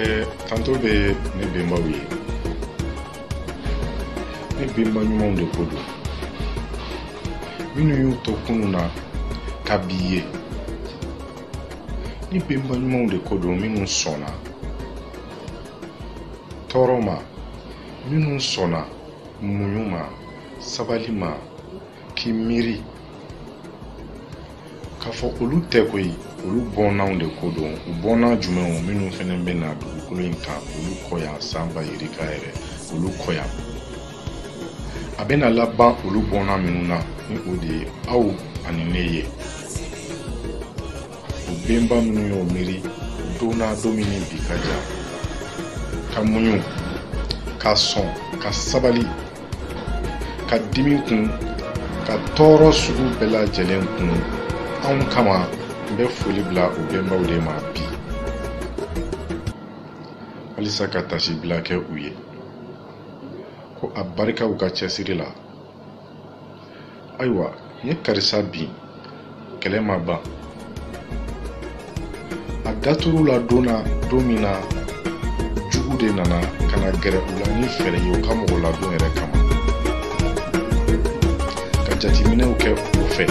ɛɛ kanto bɛ ne bɛnbaw ye ne bɛnba ɲumanw de ko don minnu y'u to kunun na ka bi ye ne bɛnba ɲumanw de ko don minnu sɔnna tɔɔrɔ ma minnu sɔnna muɲu ma sabali ma k'i miiri k'a fɔ olu tɛ koyi olu bɔnnaw de ko don u bɔnna jumɛnw minnu fana bɛ na dugukolo in kan olu kɔ yan san ba yirika yɛrɛ olu kɔ yan a bɛna laban olu bɔnna minnu na ni o de ye aw ani ne ye o bɛnba minnu y'o miiri don na don min ni bi ka jan ka muɲu ka sɔn ka sabali ka dimi kun ka tɔɔrɔ sugu bɛɛ lajɛlen kun anw kama n bɛ foli bila o bɛnbaw de ma bi walisa ka taasibila kɛ u ye ko abarika u ka cɛsiri la ayiwa n ye karisa bin kɛlɛ ma ban a datɔ u la don na don min na jugu de nana ka na gɛrɛ u la ni fɛɛrɛ ye u ka mɔgɔladon yɛrɛ kama ka jateminɛw kɛ u fɛ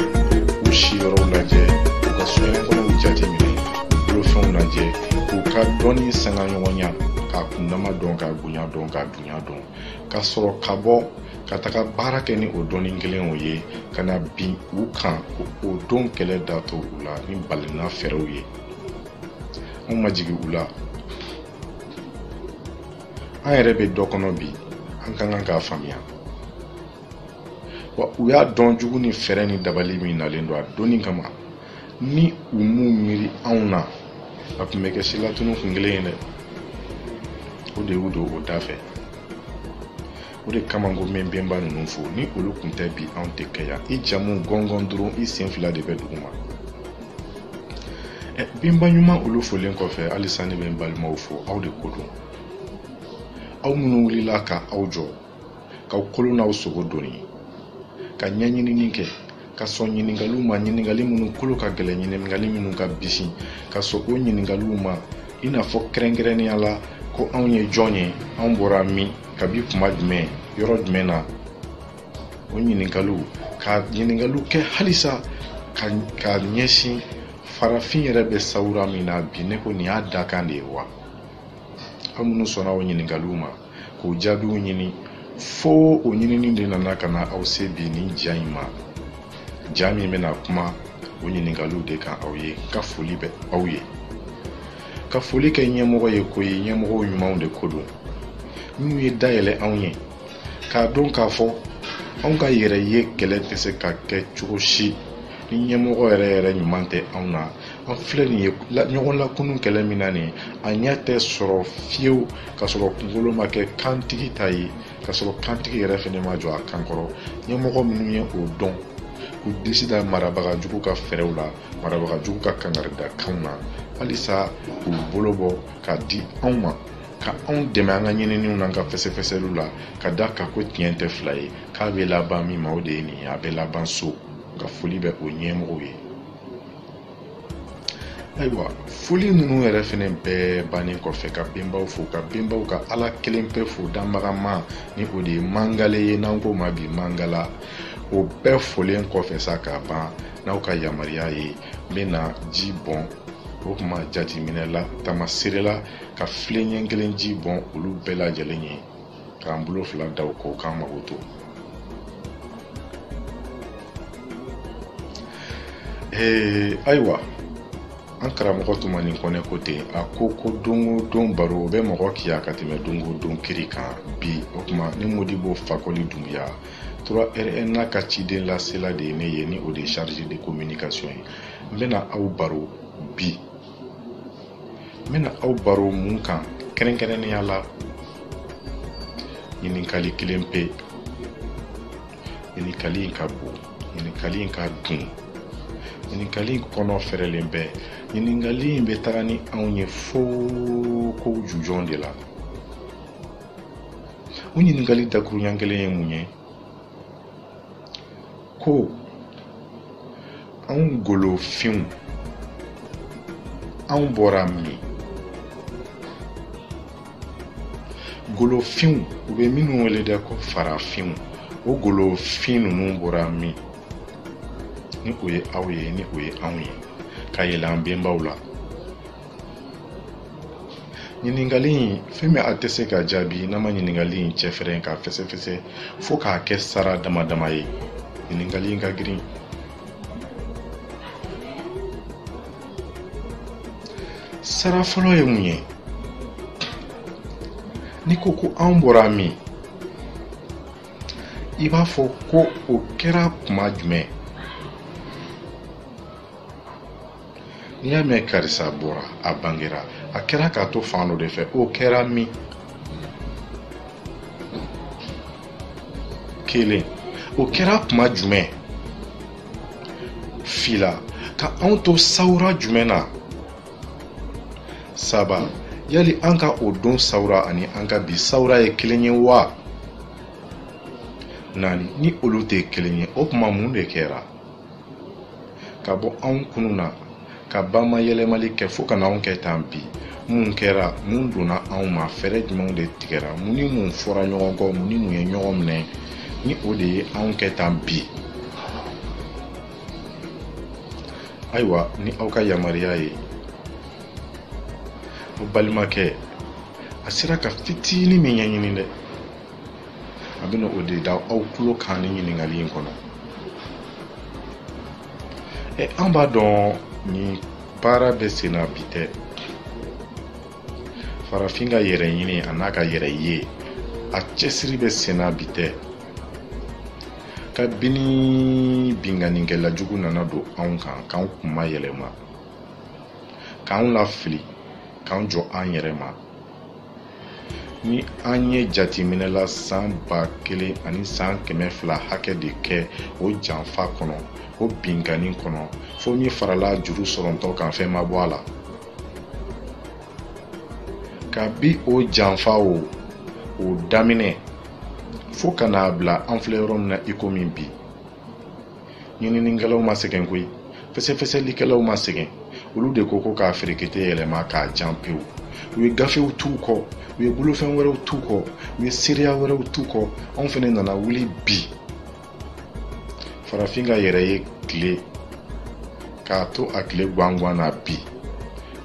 u siyɔrɔw lajɛ u ka soɲɛkɔrɔw jateminɛ u bolofɛnw lajɛ k'u ka dɔnni sanga ɲɔgɔnya k'a kundama dɔn k'a bonya dɔn k'a dunya dɔn ka sɔrɔ ka bɔ ka taga baara kɛ ni o dɔnni kelenw ye ka na bin u kan ko o don kɛlɛ datɔ u la ni balina fɛɛrɛw ye anw ma jigin u la an yɛrɛ bɛ dɔ kɔnɔ bi an ka kan k'a faamuya wa u y'a dɔn jugu ni fɛɛrɛ ni dabali min nalen don a donni kama ni u m'u miiri anw na a tun bɛ kɛ silatunu kun kelen ye dɛ o de y'u don o da fɛ o de kama n ko n bɛ bɛnba ninnu fo ni olu tun tɛ bi anw tɛ kɛ yan i jamu gɔngɔn dɔrɔn i sen fila de bɛ duguma ɛ bɛnba ɲuman olu folen kɔfɛ halisa ne bɛ n balimaw fo aw de ko don aw minnu wulila ka aw jɔ k'aw kolo n'aw sogo doni ka ɲɛɲinini kɛ ka sɔn ɲiningaliw ma ɲiningali minnu kolo ka gɛlɛn ɲiningali minnu ka bisi ka sɔn o ɲiningaliw ma i n'a fɔ kɛrɛnkɛrɛnnenya la ko anw ye jɔn ye anw bɔra min kabi kuma jumɛn yɔrɔ jumɛn na o ɲiningaliw ka ɲiningaliw kɛ halisa ka ɲɛsin farafin yɛrɛ bɛ sawura min na bi ne ko nin y'a dakan de ye wa aw minnu sɔnna o ɲiningaliw ma k'o jaabiw ɲini fo o ɲinini de nana ka na aw se bi nin ja in ma ja min bɛna kuma o ɲininkaliw de kan aw ye ka foli bɛ aw ye ka foli kɛ ɲɛmɔgɔ ye ko ye ɲɛmɔgɔw ɲumanw de ko don minnu ye da yɛlɛ anw ye k'a dɔn k'a fɔ anw ka yɛrɛ ye kɛlɛ tɛ se ka kɛ cogo si ni ɲɛmɔgɔ yɛrɛ yɛrɛ ɲuman tɛ anw na an filɛ nin ye ɲɔgɔn lakunu kɛlɛ min na nin a ɲɛ tɛ sɔrɔ fiyewu ka sɔrɔ kunkolo ma kɛ kantigi ta ye ka sɔrɔ kantigi yɛrɛ fɛnɛ ma jɔ a kan kɔrɔ ɲɛmɔgɔ minnu ye o dɔn k'u disi da marabagajugu ka fɛɛrɛw la marabagajugu ka kangarida kanw na halisa k'u bolo bɔ ka di anw ma ka anw dɛmɛ an ka ɲininiw n'an ka fɛsɛfɛsɛliw la ka da a kan ko tiɲɛ tɛ fila ye k'a bɛ laban min ma o de ye nin ye a bɛ laban so nka foli bɛ o ɲɛmɔgɔw ye ayiwa foli ninnu yɛrɛ fɛnɛ bɛɛ bannen kɔfɛ ka benbaw fo ka benbaw ka ala kelen pe fo danbagama ni o de ye mangala ye n'an k'o ma bi mangala o bɛɛ folen kɔfɛ sa ka ban n'aw ka yamaruya ye n bɛna ji bɔn o kuma jateminɛ la tamasere la ka filen ɲɛ kelen ji bɔn olu bɛɛ lajɛlen ye k'an bolo fila da u kɔ k'an makoto ee ayiwa an karamɔgɔ tumani kɔnɛ ko ten a ko ko don o don baro o bɛ mɔgɔ kiya ka tɛmɛ don o don kiri kan bi o tuma ne modibo fakoli dunbiya 3rna ka ciden lasela de ye ne ye ni o de ye chargé de communication ye n bɛna aw baro bi n bɛna aw baro mun kan kɛrɛnkɛrɛnnenya la ɲininkali kelen pe ɲininkali in ka bon ɲininkali in ka dun ɲininkali in kɔnɔ fɛrɛlen bɛ ɲininkali in bɛ taga ni anw ye fo kow jujɔn de la o ɲininkali dakuruɲɛ kelen ye mun ye ko anw golofinw anw bɔra min golofinw u bɛ minnu wele dɛ ko farafinw o golofin ninnu bɔra min ni o ye aw ye ni o ye anw ye ka yɛlɛ an bɛnbaw la ɲininkali in fɛn min a tɛ se ka jaabi n'an ma ɲininkali in cɛfɛrɛn k'a fɛsɛfɛsɛ fo k'a kɛ sara dama dama ye ɲininkali in ka girin sara fɔlɔ ye mun ye n'i ko ko anw bɔra min i b'a fɔ ko o kɛra kuma jumɛn n'i y'a mɛn karisa bɔra a bangera a kɛra k'a to fan dɔ de fɛ o kɛra min kelen o kɛra tuma jumɛn fila ka anw to sawura jumɛn na saba yali an ka o don sawura ani an ka bi sawura ye kelen ye wa naani ni olu tɛ kelen ye o tuma mun de kɛra ka bɔ anw kunun na ka bama yɛlɛmali kɛ fo ka na anw kɛ tan bi mun kɛra mun donna anw ma fɛɛrɛ jumɛnw de tigɛra mun ni mun fɔra ɲɔgɔn kɔ mun ni mun ye ɲɔgɔn minɛ ni o de ye anw kɛ tan bi ayiwa ni aw ka yamaruya ye aw balimakɛ a sera ka fitinin min ɲɛɲini dɛ a bɛna o de da aw tulo kan nin ɲininkali in kɔnɔ ɛ an b'a dɔn nin baara bɛ sen na bi tɛ farafin ka yɛrɛ ɲini an'a ka yɛrɛ ye a cɛsiri bɛ sen na bi tɛ kabini binkannikɛla jugu nana don anw kan k'anw kunmayɛlɛma k'anw lafili k'an jɔ an yɛrɛ ma ni an ye jateminɛ la san ba kelen ani san kɛmɛ fila hakɛ de kɛ o janfa kɔnɔ o binkanni kɔnɔ fo min farala juru sɔrɔtɔ kan fɛn ma bɔ a la kabi o janfa o o daminɛ fo ka n'a bila an filɛ yɔrɔ min na iko min bi ɲininikɛlaw ma sɛgɛn koyi fɛsɛfɛsɛlikɛlaw ma sɛgɛn olu de ko ko k'a ferekete yɛlɛma k'a jan pewu u ye gafew t'u kɔ u ye bolofɛn wɛrɛw t'u kɔ u ye seereya wɛrɛw t'u kɔ anw fɛnɛ nana wuli bi farafin ka yɛrɛ ye tile k'a to a tile gwangwan na bi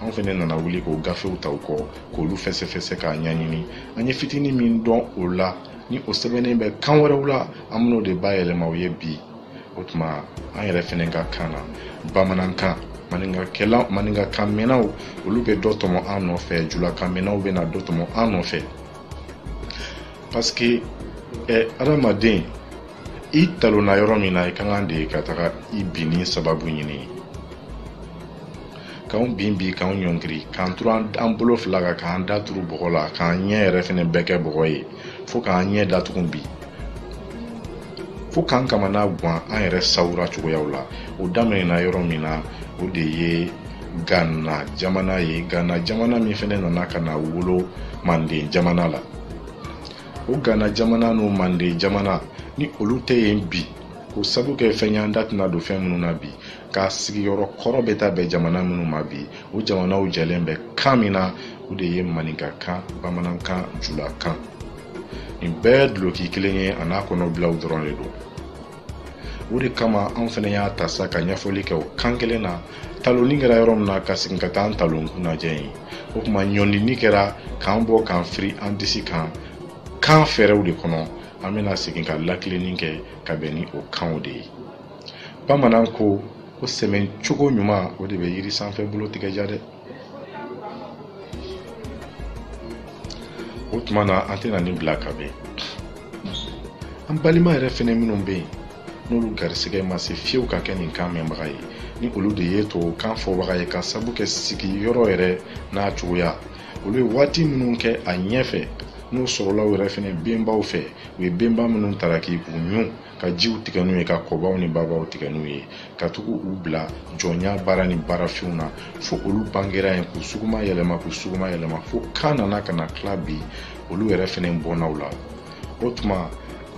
anw fɛnɛ nana wuli k'o gafew ta u kɔ k'olu fɛsɛfɛsɛ k'a ɲɛɲini an ye fitini min dɔn o la ni o sɛbɛnnen bɛ kan wɛrɛw la an bɛn'o de bayɛlɛma aw ye bi o tuma an yɛrɛ fɛnɛ ka kan na bamanankan maninkakan mɛnnaw olu bɛ dɔ tɔmɔ an nɔfɛ julakan mɛnnaw bɛna dɔ tɔmɔ an nɔfɛ parce que eh, adamaden i talonna yɔrɔ min na i ka kan de ka taga i binni sababu ɲini k'anw bin bi k'anw ɲɔngiri k'an turu an bolo fila kan k'an da turu bɔgɔ la k'an ɲɛ yɛrɛ fɛnɛ bɛɛ kɛ bɔgɔ ye fo k'an ɲɛ datugu bi fo k'an kamana gan an yɛrɛ sawura cogoyaw la o daminɛna yɔrɔ min na o de ye gana jamana ye gana jamana min fɛnɛ nana ka na wolo manden jamana la o gana jamana n'o manden jamana ni olu tɛ yen bi k'o sabu kɛ fɛn y'an da tɛna don fɛn minnu na bi k'a sigiyɔrɔ kɔrɔ bɛ taa bɛn jamana minnu ma bi o jamanaw jɛlen bɛ kan min na o de ye maninkakan bamanankan julakan nin bɛɛ duloki kelen ye a n'a kɔnɔbilaw dɔrɔn de don o de kama anw fana y'a ta sa ka ɲɛfɔli kɛ o kan kelen na talonni kɛra yɔrɔ min na ka segin ka taa an talon kun lajɛ yen o tuma ɲɔnini kɛra k'an bɔ k'an firi an disi kan kan fɛɛrɛw de kɔnɔ an bɛna segin ka lakilenni kɛ ka bɛn ni o kanw de ye bamanan ko ko sɛmɛ cogo ɲuman o de bɛ yiri sanfɛ bolo tigɛ ja dɛ o tuma na an tɛna nin bila ka bɛn an balima yɛrɛ fɛnɛ minnu bɛ yen n'olu garisɛgɛ ma se fiyewu ka kɛ nin kan mɛnbaga ye ni olu de ye tubabukan fɔbaga ye ka sabu kɛ sigiyɔrɔ yɛrɛ n'a cogoya olu ye waati minnu kɛ a ɲɛfɛ n'u sɔrɔla u yɛrɛ fɛnɛ benbaw fɛ u ye benba minnu taraki k'u ɲun ka jiw tigɛ n'u ye ka kɔbaw ni babaw tigɛ n'u ye ka taga u bila jɔnya baara ni baarafinw na fo olu bangera yen k'u suguma yɛlɛma k'u suguma yɛlɛma fo kan nana ka na tila bi olu yɛrɛ fɛnɛ bɔnnaw la o tuma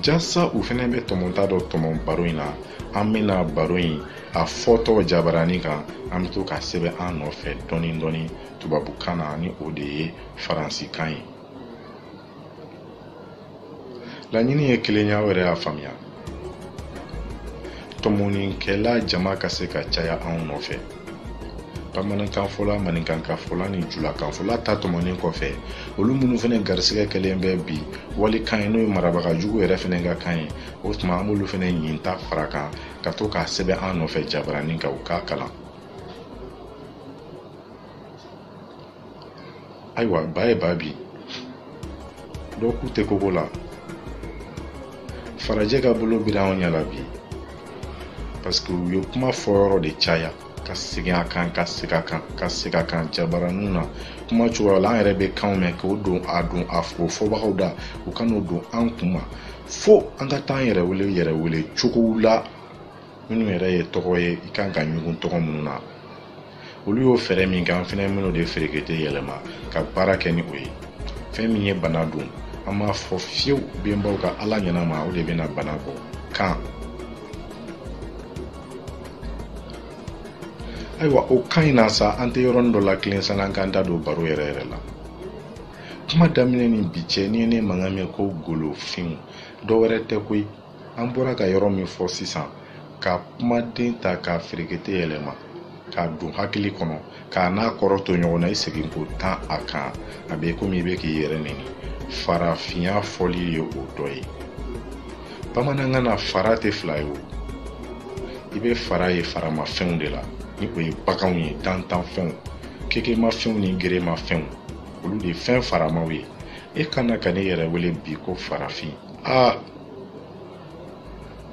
jasa u fɛnɛ bɛ tɔmɔta dɔ tɔmɔ baro in na an bɛna baro in a fɔtɔ jabarani kan an bɛ to k'a sɛbɛn an nɔfɛ dɔɔni dɔɔni tubabukan na ni o de ye faransikan ye laɲini ye kelen ye aw yɛrɛ y'a faamuya tɔmɔnikɛla jama ka se ka caya anw nɔfɛ bamanankanfɔla maninkakanfɔla ni julakanfɔla ta tɔmɔnen kɔfɛ olu minnu fana garisigɛ kɛlen bɛ bi walikan ye n'o ye marabagajugu yɛrɛ fana ka kan ye o tuma an b'olu fana ɲin ta fara a kan ka to k'a sɛbɛn an nɔfɛ jabaranin kan u k'a kalan ayiwa ba ye ba bi dɔ k'u tɛ koko la farajɛ ka bolo bira anw ɲɛ la bi paseke u ye kuma fɔ yɔrɔ de caya ka segin a kan ka segin a kan ka segin a kan jabaraniw na kumasow la an yɛrɛ bɛ kanw mɛn k'o don a don a fɔ fɔbagaw da u ka n'o don an kun ma fo an ka taa an yɛrɛ wele yɛrɛ wele cogow la minnu yɛrɛ ye tɔgɔ ye i kan ka ɲugun tɔgɔ minnu na olu y'o fɛɛrɛ min kɛ an fana bɛn'o de feerekete yɛlɛma ka baara kɛ ni o ye fɛn min ye bana don an b'a fɔ fiyewu benbaw ka ala ɲɛnama o de bɛna bana bɔ kan ayiwa o kan in na sa an tɛ yɔrɔnin dɔ lakilen sanni an k'an da don baro yɛrɛ yɛrɛ la kuma daminɛ ni bi cɛ n'i ye ne mankan mɛn ko golofinw dɔ wɛrɛ tɛ koyi an bɔra ka yɔrɔ min fɔ sisan ka kumaden ta k'a ferekete yɛlɛma k'a don hakili kɔnɔ k'a n'a kɔrɔ to ɲɔgɔn na i segin ko tan a kan a bɛ komi i bɛ k'i yɛrɛ nɛni farafinya fɔli ye o dɔ ye bamanankan na fara tɛ fila ye o i bɛ fara ye faramafɛnw de la ni o ye baganw ye dantanfɛnw kekemafɛnw ni geremafɛnw olu de ye fɛn faramaw ye e kana ka ne yɛrɛ wele bi ko farafin aa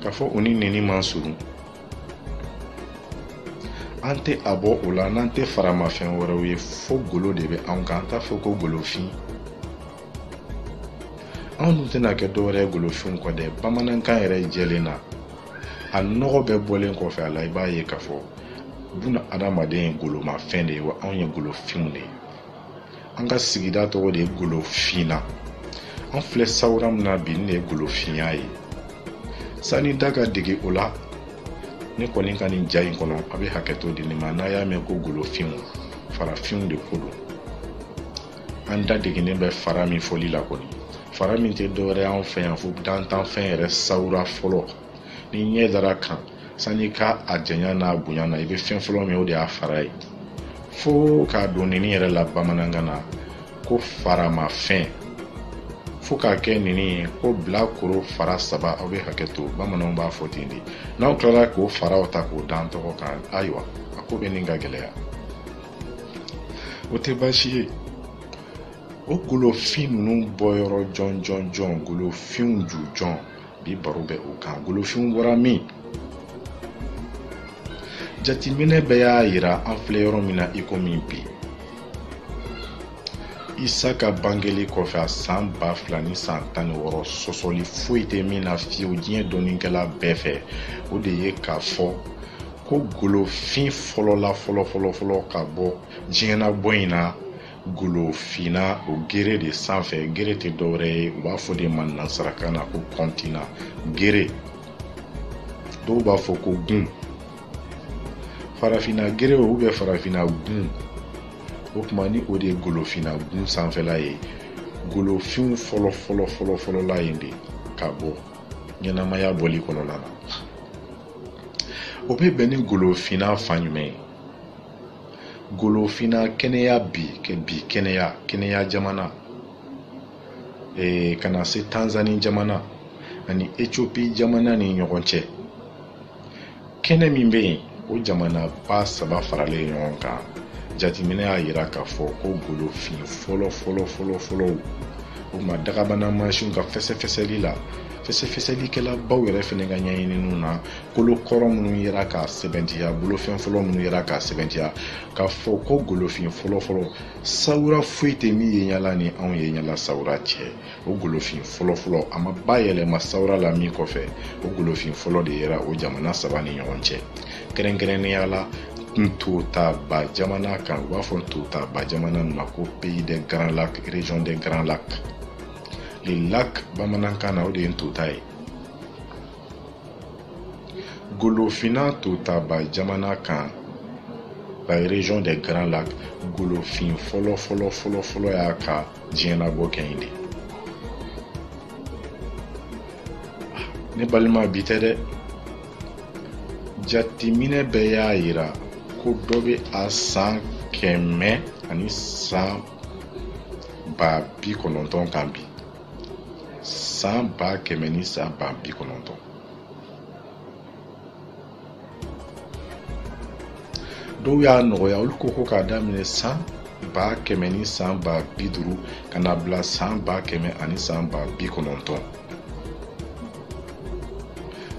k'a fɔ u ni nɛni man surun an tɛ a bɔ o la n'an tɛ faramafɛn wɛrɛw ye fo golo de bɛ anw kan an t'a fɔ ko golofin anw dun tɛna kɛ dɔwɛrɛ ye golofinw kɔ dɛ bamanankan yɛrɛ jɛlen na a nɔgɔ bɛɛ bɔlen kɔfɛ a la i b'a ye k'a fɔ buna adamaden ye golomafɛn de ye wa anw ye golofinw de ye an ka sigida tɔgɔ de ye golofina an filɛ sawura min na bi nin ye golofinya ye sani da ka dege o la ne kɔni ka nin ja in kɔnɔ a bɛ hakɛto di ne ma n'a y'a mɛn ko golofinw farafinw de ko don an da degennen bɛ fara min fɔli la kɔni fara min tɛ dɔwɛrɛ y'an fɛ yan fo dantanfɛn yɛrɛ sawura fɔlɔ ni ɲɛ dara a kan sani ka a janya n'a bonya na i bɛ fɛn fɔlɔ min o de y'a fara ye fo k'a don nɛni yɛrɛ la bamanankan na ko faramafɛn fo k'a kɛ nɛni ye ko bilakoro fara saba aw bɛ hakɛ to bamananw b'a fɔ ten de n'aw tilara k'o faraw ta k'o da an tɔgɔ kan ayiwa a ko bɛ ɲini ka gɛlɛya o tɛ baasi ye o golofin ninnu bɔyɔrɔ jɔnjɔnjɔn golofinw jujɔn bi baro bɛ o kan golofin bɔra min jateminɛ bɛɛ y'a yira an filɛ yɔrɔ min na ikomi bi isa ka bangeli kɔfɛ a san ba fila ni san tan ni wɔɔrɔ sɔsɔli foyi tɛ min na fewu diɲɛ dɔnnikɛla bɛɛ fɛ o de ye k'a fɔ ko golofin fɔlɔla fɔlɔ fɔlɔ fɔlɔ ka bɔ diɲɛnabɔ in na golofina o gere de sanfɛ gere tɛ dɔwɛrɛ ye u b'a fɔ o de ma nansarakan na ko kɔntinan gere dɔw b'a fɔ ko gun farafina gere o bɛ farafina gun o tuma ni o de ye golofina gun sanfɛla ye golofinw fɔlɔ fɔlɔ fɔlɔ fɔlɔla yen de ka bɔ ɲɛnamaya bɔli kɔnɔna na o bɛ bɛn ni golofina fan jumɛn ye golofinna kenya bi bi kenya jamana ee, ka na se tanzani jamana ani ethiopie jamana ni ɲɔgɔn cɛ kɛnɛ min bɛ yen o jamanaba saba faralen ɲɔgɔn kan jateminɛ y'a jira k'a fɔ ko golofin fɔlɔ fɔlɔ fɔlɔ fɔlɔw o ma dagabana mansinw ka fɛsɛfɛsɛli la fɛsɛfɛsɛlikɛlabaw yɛrɛ fana ka ɲɛɲininiw na kolo kɔrɔ minnu yera k'a sɛbɛntiya bolofɛn fɔlɔ minnu yera k'a sɛbɛntiya k'a fɔ ko golofin fɔlɔfɔlɔ sawura foyi tɛ min ye yala ni anw ye yala sawura cɛ o golofin fɔlɔfɔlɔ a ma bayɛlɛma sawura la min kɔfɛ o golofin fɔlɔ de yera o jamana saba ni ɲɔgɔn cɛ kɛrɛnkɛrɛnnenya la ntotaba jamana kan u b'a fɔ ntotaba jamana ma ko pays des grands lacs région des grands lacs le lac bamanankan na o de ye ntota ye Golofinna ntotaba jamana kan la région des Grands Lacs golofin fɔlɔ fɔlɔ fɔlɔ fɔlɔ y'a ka diɲɛlabɔ kɛ yen de ah, ne balima bi tɛ dɛ jateminɛ bɛɛ y'a yira ko dɔ bɛ a san kɛmɛ ani san ba bi kɔnɔntɔn kan bi san ba kɛmɛ ni san ba bi kɔnɔntɔn dɔw y'a nɔgɔya olu ko ko k'a daminɛ san ba kɛmɛ ni san ba bi duuru ka na bila san ba kɛmɛ ani san ba bi kɔnɔntɔn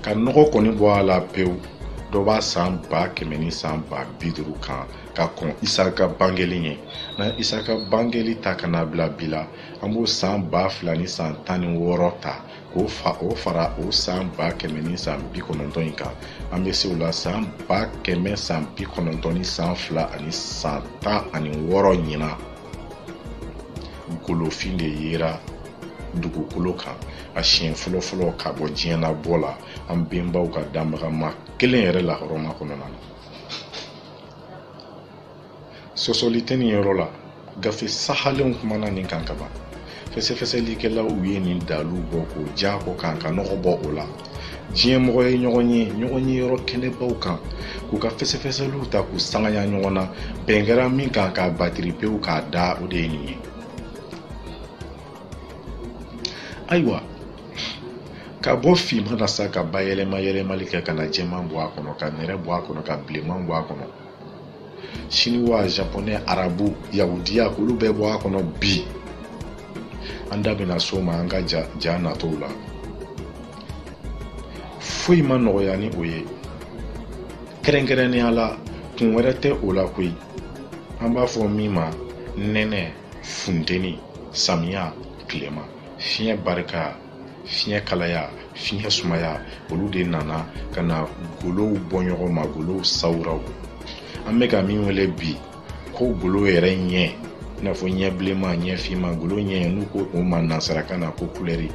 ka nɔgɔ kɔni bɔ a la pewu dɔ b'a san ba kɛmɛ ni san ba bi duuru kan ka kɔn isa ka bangeli ɲɛ na isa ka bangeli ta ka na bila bi la an b'o san ba fila ni san tan ni wɔɔrɔ ta k'o fara o san ba kɛmɛ ni san bi kɔnɔntɔn in kan an bɛ se o la san ba kɛmɛ san bi kɔnɔntɔn ni san fila ani san tan ani wɔɔrɔ ɲina golofin de yera dugukolo kan a siɲɛ fɔlɔfɔlɔ ka bɔ diɲɛlabɔ la an bɛnbaw ka danbagama kelen yɛrɛ lahɔrɔma kɔnɔna na sɔsɔli tɛ nin yɔrɔ la gafe sahalenw kumana nin kan kaban fɛsɛfɛsɛlikɛlaw u ye nin daluw bɔ k'o ja kɔ kan ka nɔgɔ bɔ o la diɲɛ mɔgɔ ye ɲɔgɔn ye ɲɔgɔnye yɔrɔ kɛnɛbaw kan k'u ka fɛsɛfɛsɛliw ta k'u sangaya ɲɔgɔn na bɛn kɛra min kan k'a batiri pewu k'a da o de ye nin ye ayiwa ka bɔ finma na sa ka bayɛlɛma yɛlɛmali kɛ ka na jɛman bɔ a kɔnɔ ka nɛrɛ bɔ a kɔnɔ ka bilenman bɔ a kɔnɔ siniwa japonɛ arabu yahudiya k'olu bɛɛ bɔ a kɔnɔ bi an da bɛna se o ma an ka ja, ja natɔw la foyi ma nɔgɔya ni o ye kɛrɛnkɛrɛnnenya la kun wɛrɛ tɛ o la koyi an b'a fɔ min ma nɛnɛ funteni samiya tilema fiɲɛ barika fiɲɛ kalaya fiɲɛ sumaya olu de nana ka na golow bɔ ɲɔgɔn ma golow sawuraw an bɛ ka min wele bi ko golo yɛrɛ ɲɛ i n'a fɔ ɲɛ bilenman ɲɛ finman golo ɲɛ n'u ko o ma nansarakan na ko kulɛri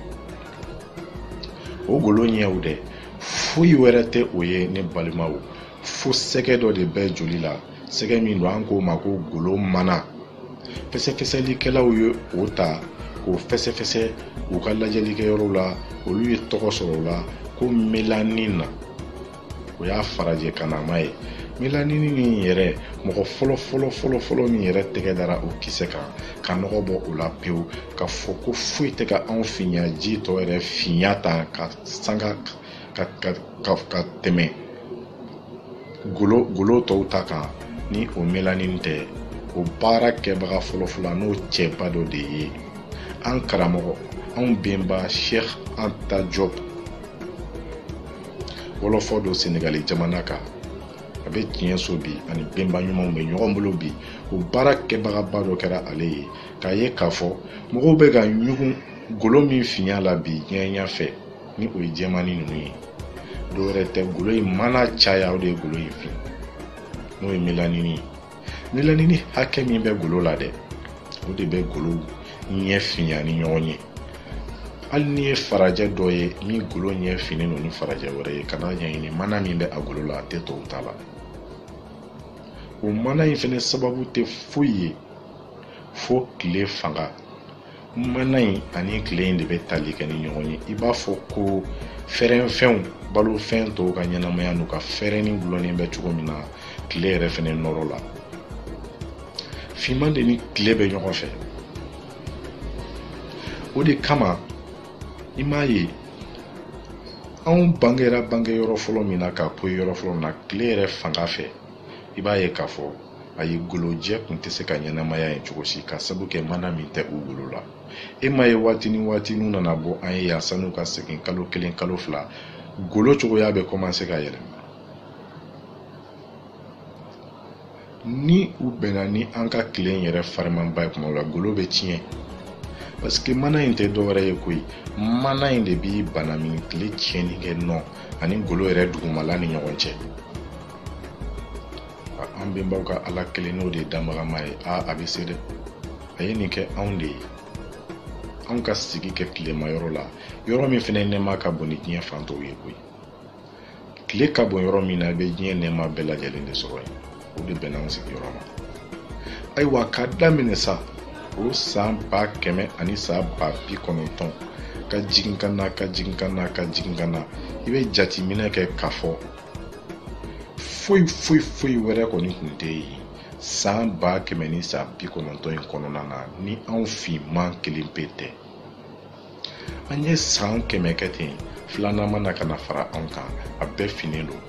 o golo ɲɛw dɛ foyi wɛrɛ tɛ o ye ne balimaw fo sɛgɛ dɔ de bɛ joli la sɛgɛ min don an k'o ma ko golo mana fɛsɛfɛsɛlikɛlaw ye o ta k'o fɛsɛfɛsɛ u ka lajɛlikɛyɔrɔw la olu ye tɔgɔ sɔrɔ o la ko melanin n'o y'a farajɛkannama ye melanini in yɛrɛ mɔgɔ fɔlɔ fɔlɔ fɔlɔ fɔlɔ min yɛrɛ tɛgɛ dara o kisɛ kan ka nɔgɔ bɔ o la pewu k'a fɔ ko foyi tɛ ka anw finya ji tɔ yɛrɛ finya tan ka sanga ka ka ka ka tɛmɛ golo golo tɔw ta kan ni o melanin tɛ o baara kɛbaga fɔlɔfɔlɔ n'o cɛba dɔ de ye an karamɔgɔ anw benba cheikh anta diop wɔlɔfɔ don senegali jamana kan a bɛ tiɲɛso bi a ni benba ɲumanw bɛ ɲɔgɔn bolo bi o baara kɛbagaba dɔ kɛra ale ye k'a ye k'a fɔ mɔgɔw bɛ ka ɲugun golo min finya la bi ɲɛngoya fɛ ni o ye jɛmannin ninnu ye dɔwɛrɛ tɛ golo in mana caya o de ye golo in fin n'o ye melanini ye melanini hakɛ min bɛ golo la dɛ o de bɛ golo ɲɛ finya ni ɲɔgɔn ye hali n'i ye farajɛ dɔ ye min golo ɲɛ finnen don ni farajɛ wɛrɛ ye ka taa a ɲɛɲini mana min bɛ a golo la a tɛ tɔw ta la o mana in fɛnɛ sababu tɛ foyi ye fo tile fanga mana in ani tile in de bɛ tali kɛ ni ɲɔgɔn ye i b'a fɔ ko fɛrɛnfɛnw balofɛn tɔw ka ɲɛnamaya n'u ka fɛrɛnni dulonnen bɛ cogo min na tile yɛrɛ fɛnɛ nɔɔrɔ la finman de ni tile bɛ ɲɔgɔn fɛ o de kama i m'a ye anw bangera bange yɔrɔ fɔlɔ min na ka poyi yɔrɔ fɔlɔ min na tile yɛrɛ fanga fɛ i b'a ye k'a fɔ a ye golojɛ kun tɛ se ka ɲɛnamaya yen cogo si k'a sabu kɛ mana min tɛ u golo la e m'a ye waati ni waati n'u nana bɔ an ye yan san'u ka segin kalo kelen kalo fila golo cogoya bɛ kɔmanse ka yɛlɛma ni u bɛnna ni an ka tilen yɛrɛ farimanba in kuma la golo bɛ tiɲɛ parce que mana in tɛ dɔwɛrɛ ye koyi mana in de b'i banamini tile tiɲɛni kɛ nɔ ani golo yɛrɛ dugumala ni ɲɔgɔn cɛ an bɛnbaw ka ala kelen n'o de ye danbagama ye a a bɛ se dɛ a ye nin kɛ anw de ye anw ka sigi kɛ tilema yɔrɔ la yɔrɔ min fana nɛɛma ka bon ni diɲɛ fan tɔw ye koyi tile ka bon yɔrɔ min na i bɛ diɲɛ nɛɛma bɛɛ lajɛlen de sɔrɔ yen o de bɛnna anw sigiyɔrɔ ma ayiwa ka daminɛ sa o san ba kɛmɛ ani san ba bi kɔnɔntɔn ka jigin ka na ka jigin ka na ka jigin ka na i bɛ jateminɛ kɛ k'a fɔ foyi foyi foyi wɛrɛ kɔni tun tɛ yen san ba kɛmɛ ni san bi kɔnɔntɔn in kɔnɔna na ni anw finman kelen pe tɛ an ye san kɛmɛ kɛ ten filanan mana ka na fara anw kan a bɛɛ finnen don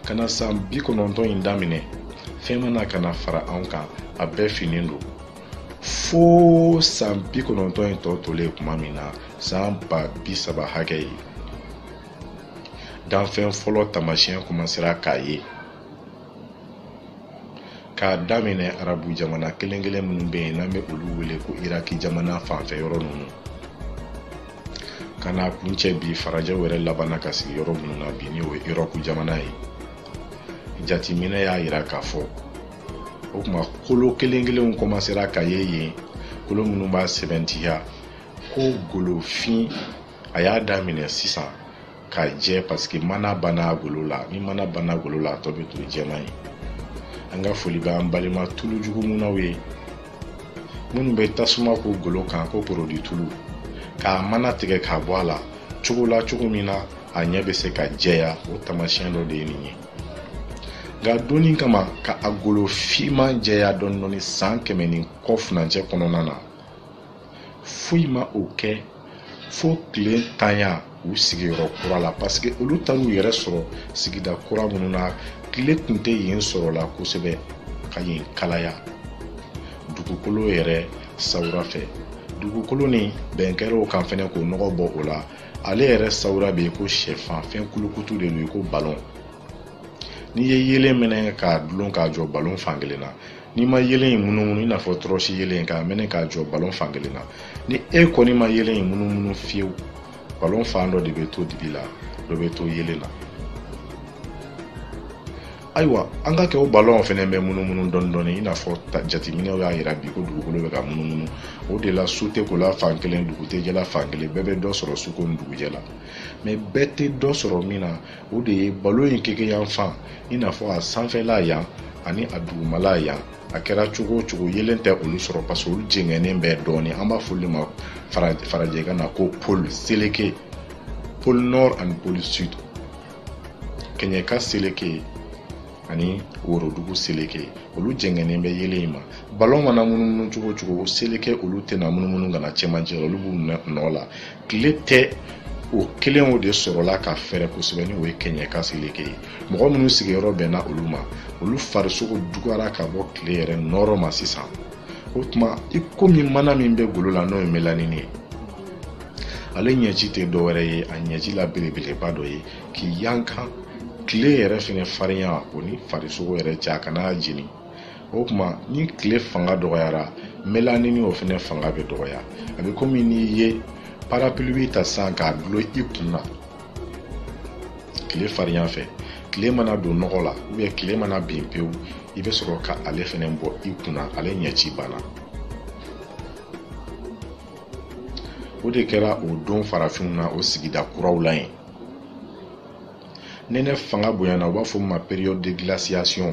ka na san bi kɔnɔntɔn in daminɛ fɛn mana ka na fara anw kan a bɛɛ finnen don fo san bi kɔnɔntɔn in tɔ tolen tuma min na san ba bi saba hakɛ ye danfɛn fɔlɔ taamasiyɛn kɔmasera ka ye k'a daminɛ arabu jamana kelen kelen minnu bɛ yen n'an bɛ olu wele ko iraki jamana fanfɛ yɔrɔ ninnu ka n'a kuncɛ bi farajɛw yɛrɛ labanna ka sigi yɔrɔ minnu na bi ni o ye erɔpu jamana ye jateminɛ y'a yira k'a fɔ o tuma kolo kelen kelenw kɔmasera ka ye yen kolo minnu b'a sɛbɛntiya ko golofin a y'a daminɛ sisan ka jɛ paseke mana banna golo la ni mana banna golo la a tɔ bɛ to jɛman ye an ka foli bɛ an balima tulu jugu munnaw ye minnu bɛ tasuma k'u golo kan ko porodi tulu k'a mana tigɛ k'a bɔ a la cogo la cogo min na a ɲɛ bɛ se ka jɛya o taamasiyɛn dɔ de ye nin ye nka donni kama ka a golo finman jɛya dɔɔni dɔɔni san kɛmɛ ni kɔ furancɛ kɔnɔna na foyi ma o kɛ fo tilentanya u sigiyɔrɔ kura la paseke olu taar'u yɛrɛ sɔrɔ sigida kura minnu na tile tun tɛ yen sɔrɔ la kosɛbɛ ka yen kalaya dugukolo yɛrɛ sawura fɛ dugukolo ni bɛn kɛr'o kan fɛnɛ k'o nɔgɔ bɔ o la ale yɛrɛ sawura bɛ i ko sɛfan fɛn kulukutu de don i ko balon n'i ye yeelen minɛ k'a dulon k'a jɔ balon fan kelen na n'i ma yeelen in munumunu i n'a fɔ tɔrɔsi yeelen k'a mɛnɛ k'a jɔ balon fan kelen na ni e kɔni ma yeelen in munumunu fiyewu balon fan dɔ de bɛ to dibi la dɔ bɛ to yeelen na ayiwa an k'a kɛ o balɔn fɛnɛ bɛ munumunu dɔɔni dɔɔni i n'a fɔ jateminɛ y'a yira bi ko dugukolo bɛ ka munumunu o de la su tɛ kola fan kelen dugu tɛ jɛla fan kelen bɛɛ bɛ dɔ sɔrɔ suko ni dugujɛ la mɛ bɛɛ tɛ dɔ sɔrɔ min na o de ye balon in keke yan fan i n'a fɔ a sanfɛla yan ani a dugumala yan a kɛra cogo o cogo yeelen tɛ olu sɔrɔ parce que olu jɛngɛnen bɛ dɔɔnin an b'a fɔ olu ma farajɛkan na ko pôle seleke pôle nord ani pôle sud kɛɲɛka seleke ani worodugu seleke ye olu jɛngɛnen bɛ yeelen in ma balon mana munumunu cogo o cogo seleke olu tɛna munumunu ka na cɛmancɛ la olu b'u minɛ nɔ la tile tɛ o kelenw de sɔrɔla ka fɛɛrɛ kosɛbɛ ni o ye kɛɲɛka seleke ye mɔgɔ minnu sigiyɔrɔ bɛnna olu ma olu farisogo dogora ka bɔ tile yɛrɛ nɔɔrɔ ma sisan o tuma i komi mana min bɛ golo la n'o ye melanini ye ale ɲɛci tɛ dɔwɛrɛ ye a ɲɛci la belebeleba dɔ ye k'i yankan tile yɛrɛ fɛnɛ farinya o ni farisogo yɛrɛ cɛ a kan'a jeni o kuma ni tile fanga dɔgɔyara melanini o fɛnɛ fanga bɛ dɔgɔya a bɛ komi n'i ye parapluie ta sisan k'a dulon i kun na tile farinya fɛ tile mana don nɔgɔ la ou bien tile mana bin pewu i bɛ sɔrɔ ka ale fɛnɛ bɔ i kun na ale ɲɛci banna o de kɛra o don farafinw na o sigida kuraw la yen nɛnɛ fanga bonyana u b'a fɔ min ma période de glaciation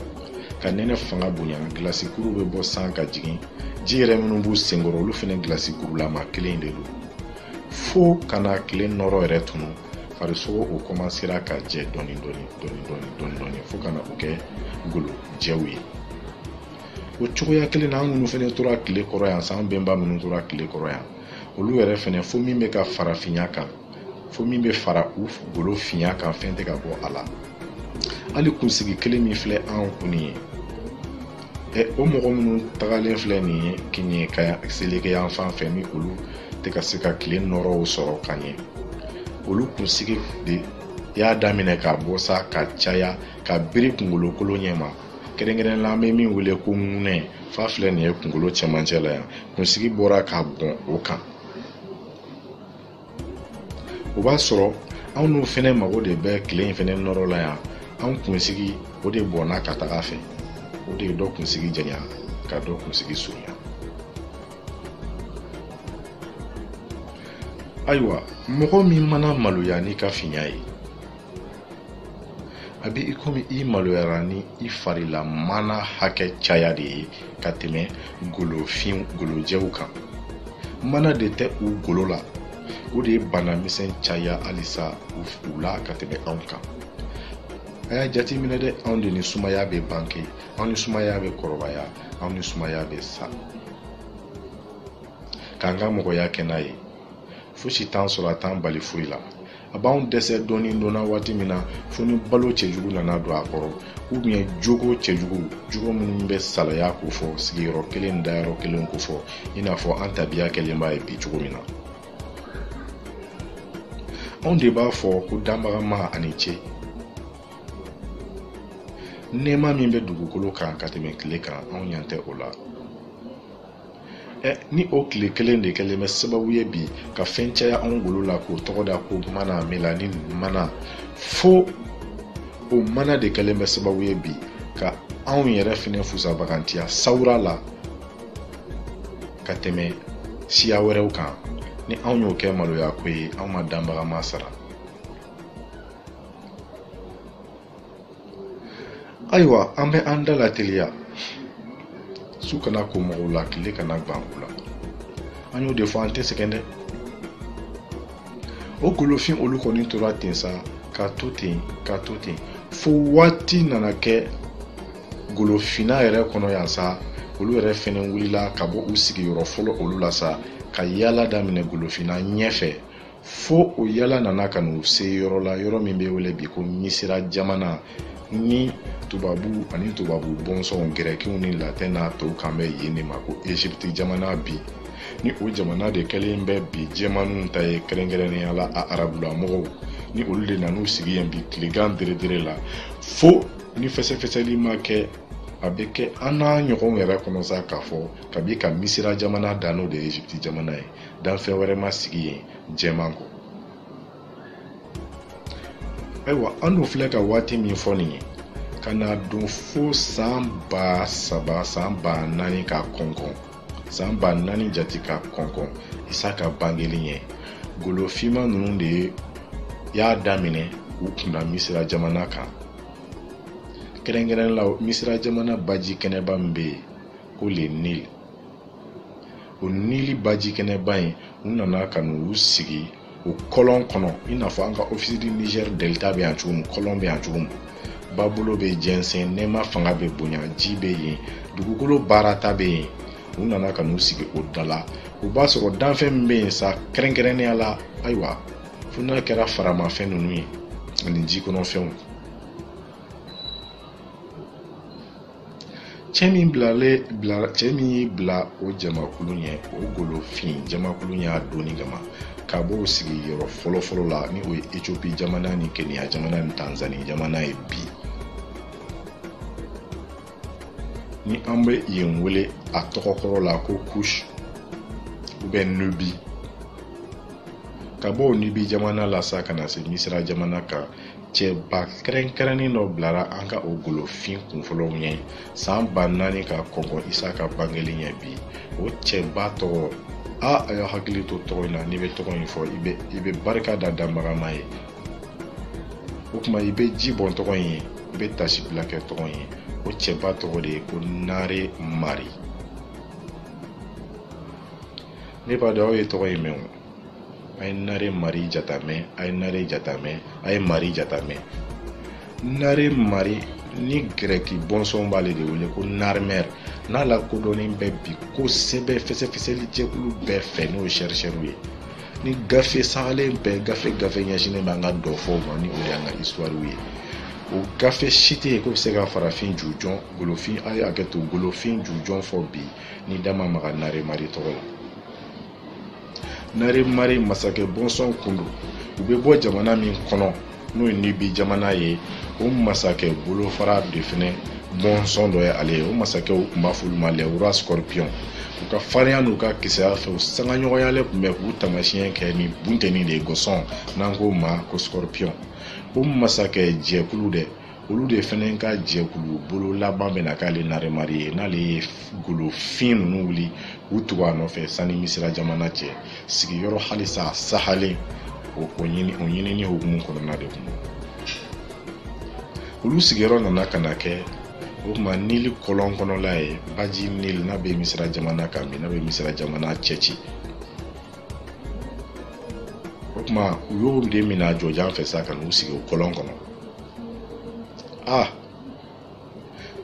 ka nɛnɛ fanga bonya gilasi kuruw bɛ bɔ san ka jigin ji yɛrɛ minnu b'u senkɔrɔ olu fɛnɛ gilasi kurulama kɛlen de don fo ka na tile nɔɔrɔ yɛrɛ tunu farisogo o kɔmansera ka jɛ dɔɔni dɔɔni dɔɔni dɔɔni dɔɔni dɔɔni fo ka na u kɛ golojɛw ye o cogoya kelen na an minnu fɛnɛ tora tile kɔrɔ yan sa an bɛnba minnu tora tile kɔrɔ yan olu yɛrɛ fɛnɛ fo min bɛ ka fara finya kan fo min bɛ fara u golo finya kan fɛn tɛ ka bɔ a la hali kunsigi kelen min filɛ an kun nin ye o mɔgɔ minnu tagalen filɛ nin ye kɛɲɛka seleke yan fan fɛ ni olu tɛ ka se ka tile nɔɔrɔw sɔrɔ ka ɲɛ olu kunsigi de y'a daminɛ ka bɔ sa ka caya ka biri kunkolo kolo ɲɛ ma kɛrɛnkɛrɛn la an bɛ min wele ko ŋunɛ fa filɛ nin ye kunkolo cɛmancɛ la yan kunsigi bɔra ka bɔn o kan o b'a sɔrɔ anw n'u fɛnɛ mago de bɛ tile in fɛnɛ nɔɔrɔ la yan anw kunsigi o de bɔnna ka taga a fɛ o de ye dɔ kunsigi janya ka dɔ kunsigi surunya ayiwa mɔgɔ min mana maloya n'i ka finya ye a bɛ i komi i maloyara ni i fari la mana hakɛ caya de ye ka tɛmɛ golofin golojɛw kan mana de tɛ u golo la o de ye bana misɛn caya halisa u la ka tɛmɛ anw kan a y'a jateminɛ dɛ anw de ni sumaya bɛ bange anw ni sumaya bɛ kɔrɔbaya anw ni sumaya bɛ sa k'an ka mɔgɔya kɛ n'a ye fosi t'an sɔrɔ a t'an bali foyi la a b'anw dɛsɛ dɔɔni donna waati min na fo ni balo cɛjugu nana don a kɔrɔ ubiyɛn jogo cɛjugu jogo minnu bɛ salaya kofɔ sigiyɔrɔ kelen dayɔrɔ kelen kofɔ i n'a fɔ an tabiya kɛlen b'a ye bi cogo min na anw de b'a fɔ ko danbaga ma a ni ce nɛɛma min bɛ dugukolo kan ka tɛmɛ tile kan anw ɲa tɛ o la ɛ ni o tile kelen de kɛlen bɛ sababu ye bi ka fɛn caya anw golo la k'o tɔgɔ da ko mana melanin mana fo o mana de kɛlen bɛ sababu ye bi ka anw yɛrɛ fɛnɛ fusa bagantiya sawura la ka tɛmɛ siya wɛrɛw kan ni anw y'o kɛ maloya ko ye anw ma danbaga ma sara ayiwa an bɛ an da lateliya su kana ko mɔgɔw la tile kana gan u la an y'o de fɔ an tɛ sɛgɛn dɛ o golofin olu kɔni tora ten sa ka to ten ka to ten fo waati nana kɛ golofinna yɛrɛ kɔnɔ yan sa olu yɛrɛ fɛnɛ wulila ka bɔ u sigiyɔrɔ fɔlɔ olu la sa ka yaala daminɛ golofinna ɲɛfɛ fo o yala nana ka n'u se yɔrɔ la yɔrɔ min bɛ wele bi ko misira jamana ni tubabu ani tubabu bɔnsɔnw gɛrɛkiw ni latɛn n'a tɔw kan bɛ yen de ma ko egypte jamana bi ni o jamana de kɛlen bɛ bi jɛmaniw ta ye kɛrɛnkɛrɛnnenya la a arabulamɔgɔw ni olu de nan'u sigi yen bi tilegan deredere la fo ni fɛsɛfɛsɛli ma kɛ a bɛ kɛ an n'a ɲɔgɔnw yɛrɛ kɔnɔ sa k'a fɔ kabi ka misira jamana dan n'o de ye egypte jamana ye danfɛn wɛrɛ ma sigi yen jɛman kɔ ayiwa an dun filɛ ka waati min fɔ nin ye ka na don fo san ba saba san ba naani ka kɔnkɔn san ba naani jate ka kɔnkɔn isa ka bangeli ɲɛ golo finman ninnu de y'a daminɛ k'u kunna misira jamana kan kɛrɛnkɛrɛnnenya la misira jamana baji kɛnɛba min bɛ yen ko le nil o nili baji kɛnɛba in u nana ka n'u sigi o kɔlɔn kɔnɔ i n'a fɔ an ka ofisi di nizɛri delita bɛ yan cogo min kɔlɔn bɛ yan cogo min babolo bɛ jɛnsɛn nɛɛma fanga bɛ bonya ji bɛ yen dugukolo baarata bɛ yen u nana ka n'u sigi o da la o b'a sɔrɔ danfɛn min bɛ yen sa kɛrɛnkɛrɛnnenya la ayiwa fo n'a kɛra faramafɛn ninnu ye ani jikɔnɔfɛnw cɛ min bilale bila cɛ min y'i bila o jamakulu ɲɛ o golofin jamakulu y'a donni kama ka b'o sigiyɔrɔ fɔlɔfɔlɔ la ni o ye ethiopie jamana ni kenya jamana ni tanzanie jamana ye bi ni an bɛ yen wele a tɔgɔ kɔrɔ la ko kush ou bien nubi ka bɔ o nubi jamana la sa ka na se misira jamana kan cɛba kɛrɛnkɛrɛnnen dɔ bilara an ka o golofin kunfɔlɔw ɲɛ san ba naani ka kɔnkɔn isa ka bangeli ɲɛ bi o cɛba tɔgɔ a a y'a hakili to tɔgɔ in na n'i bɛ tɔgɔ in fɔ i bɛ i bɛ barika da danbaga ma ye o tuma i bɛ ji bɔn tɔgɔ in ye i bɛ taasibila kɛ tɔgɔ in ye o cɛba tɔgɔ de ye ko nare mari ne b'a dɔn aw ye tɔgɔ in mɛn o a ye nare mari jateminɛ a ye nare jateminɛ a ye mari jateminɛ nare mari ni gɛrɛki bɔnsɔn b'ale de wele ko narmɛr n'a lakodɔnnen bɛ bi kosɛbɛ fɛsɛfɛsɛli jɛkulu bɛɛ fɛ n'o ye sɛrisɛriw ye ni gafe sagalen bɛɛ gafe gafe ɲɛsinnen b'an ka dɔfɔw ma ni o de y'an ka isituwariw ye o gafe si tɛ yen k'o bɛ se ka farafin jujɔn golofin a ye hakɛ to golofin jujɔn fɔ bi n'i da ma maga naremari tɔgɔ la nari mari masakɛ bɔnsɔn kun don u bɛ bɔ jamana min kɔnɔ n'o ye nibi jamana ye o masakɛ bolofara de fɛnɛ bɔnsɔn dɔ ye ale ye o masakɛw tun b'a f'olu ma les rois scorpion u ka farinya n'u ka kisɛya fɛ u sangaɲɔgɔnyalen tun bɛ k'u taamasiyɛn kɛ ni bunteni de ye gɔsɔn n'an k'o ma ko scorpion o masakɛ jɛkulu dɛ olu de fɛnɛ ka jɛkulu bolo laban bɛna k'ale naremari ye n'ale ye golofin ninnu wuli u tugu a nɔfɛ sani misira jamana cɛ sigiyɔrɔ halisa sahalen o ɲinini hukumu kɔnɔna de kun olu sigiyɔrɔ nana ka na kɛ o tuma nili kɔlɔn kɔnɔla ye baji nili n'a bɛ misira jamana kan bi n'a bɛ misira jamana cɛci o tuma u y'o de minɛ a jɔjan fɛ sa ka n'u sigi o kɔlɔn kɔnɔ ah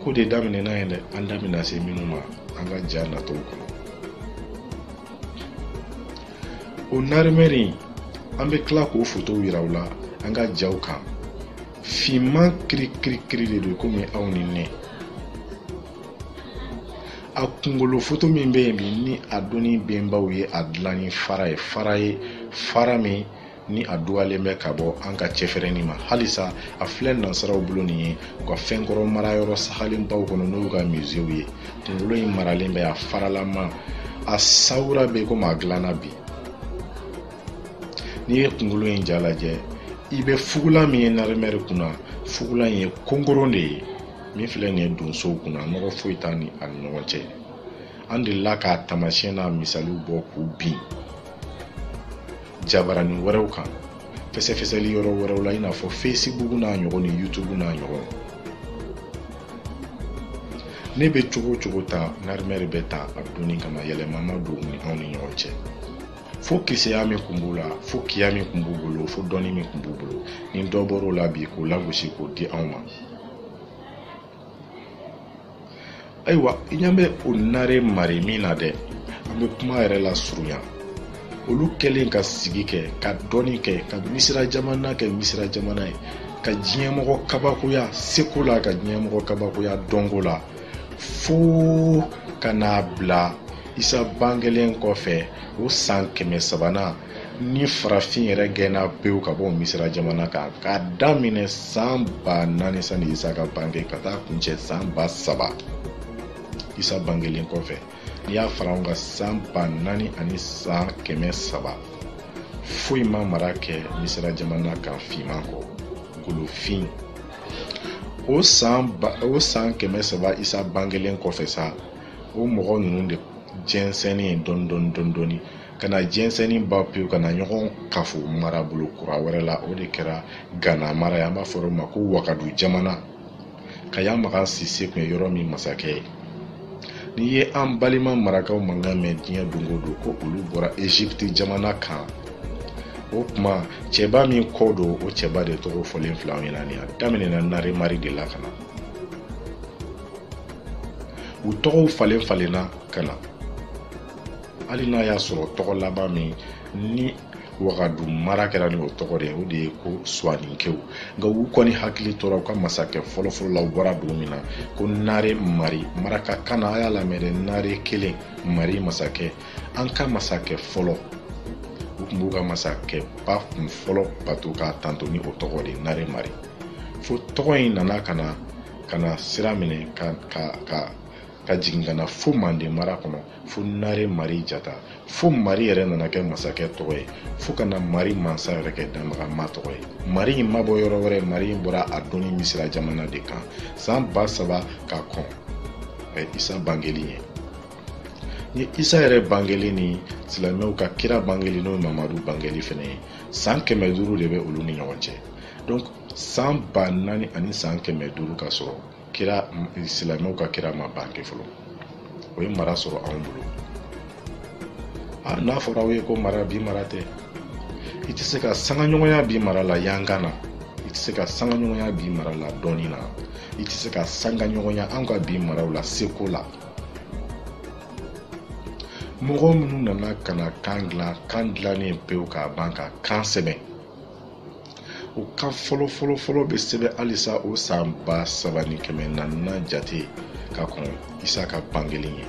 ko de daminɛna yen dɛ an da bɛna se minnu ma an ka ja natɔw kɔnɔ o narimɛri in an bɛ tila k'o fotow yira u la an ka jaw kan finman kirikirikiri de don komi aw ni ne a kunkolo foto min bɛ yen bi ni a donni bɛnbaw ye a dilan ni fara ye fara ye fara min ni a dugalen bɛ ka bɔ an ka cɛfɛrɛnni ma halisa a filɛ nansaraw bolo nin ye u ka fɛnkɔrɔ marayɔrɔ sagalenbaw kɔnɔ n'o y'u ka musew ye kungolo in maralen bɛ a faralama a sawura bɛ komi a dilanna bi n'i ye kungolo in ja lajɛ i bɛ fugula min ye narimɛri kunna fugula in ye konkoron de ye min filɛ nin ye donsow kunna nɔgɔ foyi t'a ni a ni ɲɔgɔn cɛ an delila k'a taamasiyɛn n'a misaliw bɔ k'u bin jabaranin wɛrɛw kan fɛsɛfɛsɛli yɔrɔ wɛrɛw la i n'a fɔ fesibugu n'a ɲɔgɔn ni yutubu n'a ɲɔgɔn ne bɛ cogo cogo ta narimɛri bɛ ta a donni kama yɛlɛma ma don ni anw ni ɲɔgɔn cɛ fo kisɛya min kun b'u la fo kiya min kun b'u bolo fo dɔnni min kun b'u bolo ni dɔ bɔr'o la bi k'o lagosi k'o di anw ma ayiwa i ɲɛ bɛ o nare mari min na dɛ an bɛ kuma yɛrɛ lasurunya olu kɛlen ka sigi kɛ ka dɔnni kɛ ka misira jamana kɛ misira jamana ye ka diɲɛmɔgɔ kabakoya seko la ka diɲɛmɔgɔ kabakoya dɔnko la fo ka n'a bila isa bangelen kɔfɛ o san kɛmɛ sabanan ni farafin yɛrɛ gɛnna pewu ka bɔ misira jamana kan k'a daminɛ san ba naani sani isa ka bange ka taa kuncɛ san ba saba isa bangelen kɔfɛ n'i y'a fara ɲɔgɔn kan san ba naani ani san kɛmɛ saba foyi ma mara kɛ misira jamana kan finman kɔ golofin o san ba o san kɛmɛ saba isa bangelen kɔfɛ sa o mɔgɔ ninnu de jɛnsɛnnen dɔɔni dɔɔni dɔɔni dɔɔni ka na jɛnsɛnni ban pewu ka na ɲɔgɔn kafo marabolo kura wɛrɛ la o de kɛra gana mara ye an b'a fɔ o ma ko wagadu jamana kaya makan sise tun ye yɔrɔ min masakɛ ye n'i ye an balima marakaw mankan mɛn diɲɛ don o don ko olu bɔra egypte jamana kan o tuma cɛba min ko don o cɛba de tɔgɔ fɔlen filɛ aw ɲɛna nin a daminɛna naremari de la ka na u tɔgɔw falen falenna ka na hali n'a y'a sɔrɔ tɔgɔ laban min ni wagadu mara kɛra ni o tɔgɔ de ye o de ye ko suwaninkew nka u kɔni hakili tora u ka masakɛ fɔlɔfɔlɔ la u bɔra dugu min na ko nare mari maraka kan na a y'a lamɛn dɛ nare kelen mari masakɛ an ka masakɛ fɔlɔ u tun b'u ka masakɛba kunfɔlɔ bato k'a tando ni o tɔgɔ de nare mari fo tɔgɔ in nana ka na ka na sira minɛ ka ka ka ka jigin ka na fo manden mara kɔnɔ fo nare mari jata fo mari yɛrɛ nana kɛ masakɛ tɔgɔ ye fo ka na mari mansa yɛrɛ kɛ danbagama tɔgɔ ye mari in ma bɔ yɔrɔ wɛrɛ mari in bɔra a dɔnni misira jamana de kan san ba saba ka kɔn ɛ isa bangeli ɲɛ ni isa yɛrɛ bangeli ni silamɛw ka kira bangeli n'o ye mamadu bangeli fɛnɛ ye san kɛmɛ duuru de bɛ olu ni ɲɔgɔn cɛ donc san ba naani ani san kɛmɛ duuru ka sɔrɔ kira silamɛw ka kira ma bange fɔlɔ o ye mara sɔrɔ anw bolo n'a fɔra aw ye ko mara bi mara tɛ i tɛ se ka sangaɲɔgɔnya bi mara la yankan na i tɛ se ka sangaɲɔgɔnya bi mara la dɔnni na i tɛ se ka sangaɲɔgɔnya anw ka bi maraw la seko la mɔgɔ minnu nana ka na kan dilan kan dilannen pewu k'a ban ka kan sɛbɛn o kan fɔlɔ fɔlɔ fɔlɔ bɛ sɛbɛn halisa o san ba saba ni kɛmɛ naani na jate ka kɔn isa ka bangeli ɲɛ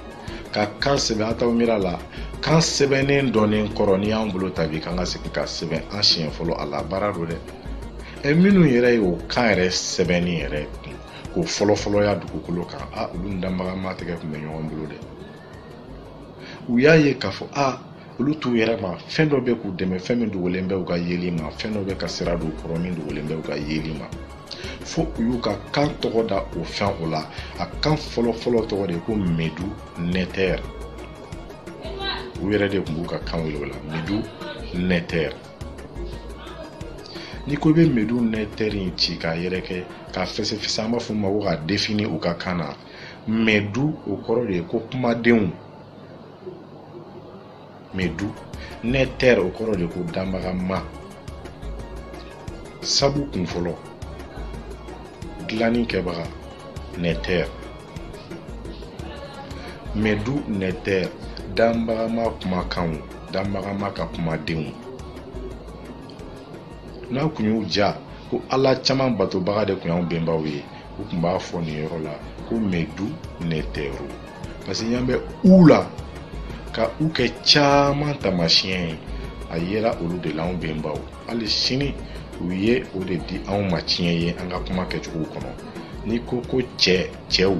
ka kan sɛbɛn a t'aw miiri la kan sɛbɛnni dɔnnen kɔrɔ n'i y'an bolo ta bi k'an ka segin ka sɛbɛn an siɲɛ fɔlɔ a la baara don dɛ ɛ minnu yɛrɛ ye o kan yɛrɛ sɛbɛnni yɛrɛ kun k'o fɔlɔfɔlɔya dugukolo kan a olu ni danbagama tɛgɛ kun bɛ ɲɔgɔn bolo dɛ u y'a ye k'a fɔ a olu t'u yɛrɛ ma fɛn dɔ bɛ k'u dɛmɛ fɛn min dogolen bɛ u ka yeli ma fɛn dɔ bɛ ka sira don kɔrɔ min dogolen bɛ u ka yeli ma fo u y'u ka kan tɔgɔ da o fɛn o la a kan fɔlɔfɔlɔ tɔgɔ de ko medu nɛtɛr u yɛrɛ de kun b'u ka kan wele o la medu nɛtɛr n'i ko i bɛ medu nɛtɛr in ci k'a yɛrɛkɛ k'a fɛsɛfɛsɛ an b'a fɔ o ma ko k'a défini u ka kan na mɛdu o kɔrɔ de ye ko kumadenw mɛdu nɛtɛr o kɔrɔ de ko danbagama sabu kun fɔlɔ dilanni kɛbaga nɛtɛr mɛdu nɛtɛr danbagama kumakanw danbagama ka kumadenw n'a kun y'u ja ko ala caman batobaga de kun y'anw benbaw ye u kun b'a fɔ nin yɔrɔ la ko medu nɛtɛru parce que y'an bɛ u la ka u kɛ caman taamasiyɛn ye a yera olu de la anw bɛnbaw hali sini u ye o de di anw ma tiɲɛ ye an ka kuma kɛcogow kɔnɔ n'i ko ko cɛ cɛw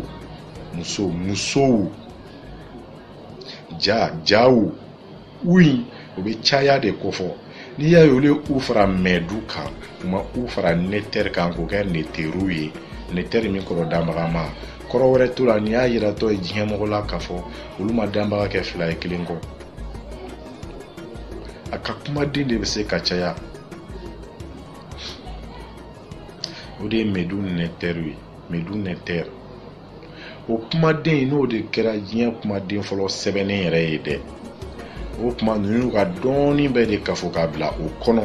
muso musow ja jaw u in o bɛ caya de kofɔ n'i y'a ye olu ye u fara mɛdu kan u ma u fara netɛri kan k'o kɛ neteru ye netɛri min kɔrɔ danbagama kɔrɔ wɛrɛ t'o la n'i y'a yiratɔ ye diɲɛ mɔgɔ la k'a fɔ olu ma danbaga kɛ fila ye kelen kɔ a ka kumaden de bɛ se ka caya o de ye mɛdu netɛriw ye mɛdu netɛri o kumaden in n'o de kɛra diɲɛ kumaden fɔlɔ sɛbɛnnen yɛrɛ ye dɛ o kuma ninnu ka dɔnni bɛɛ de kafo k'a bila o kɔnɔ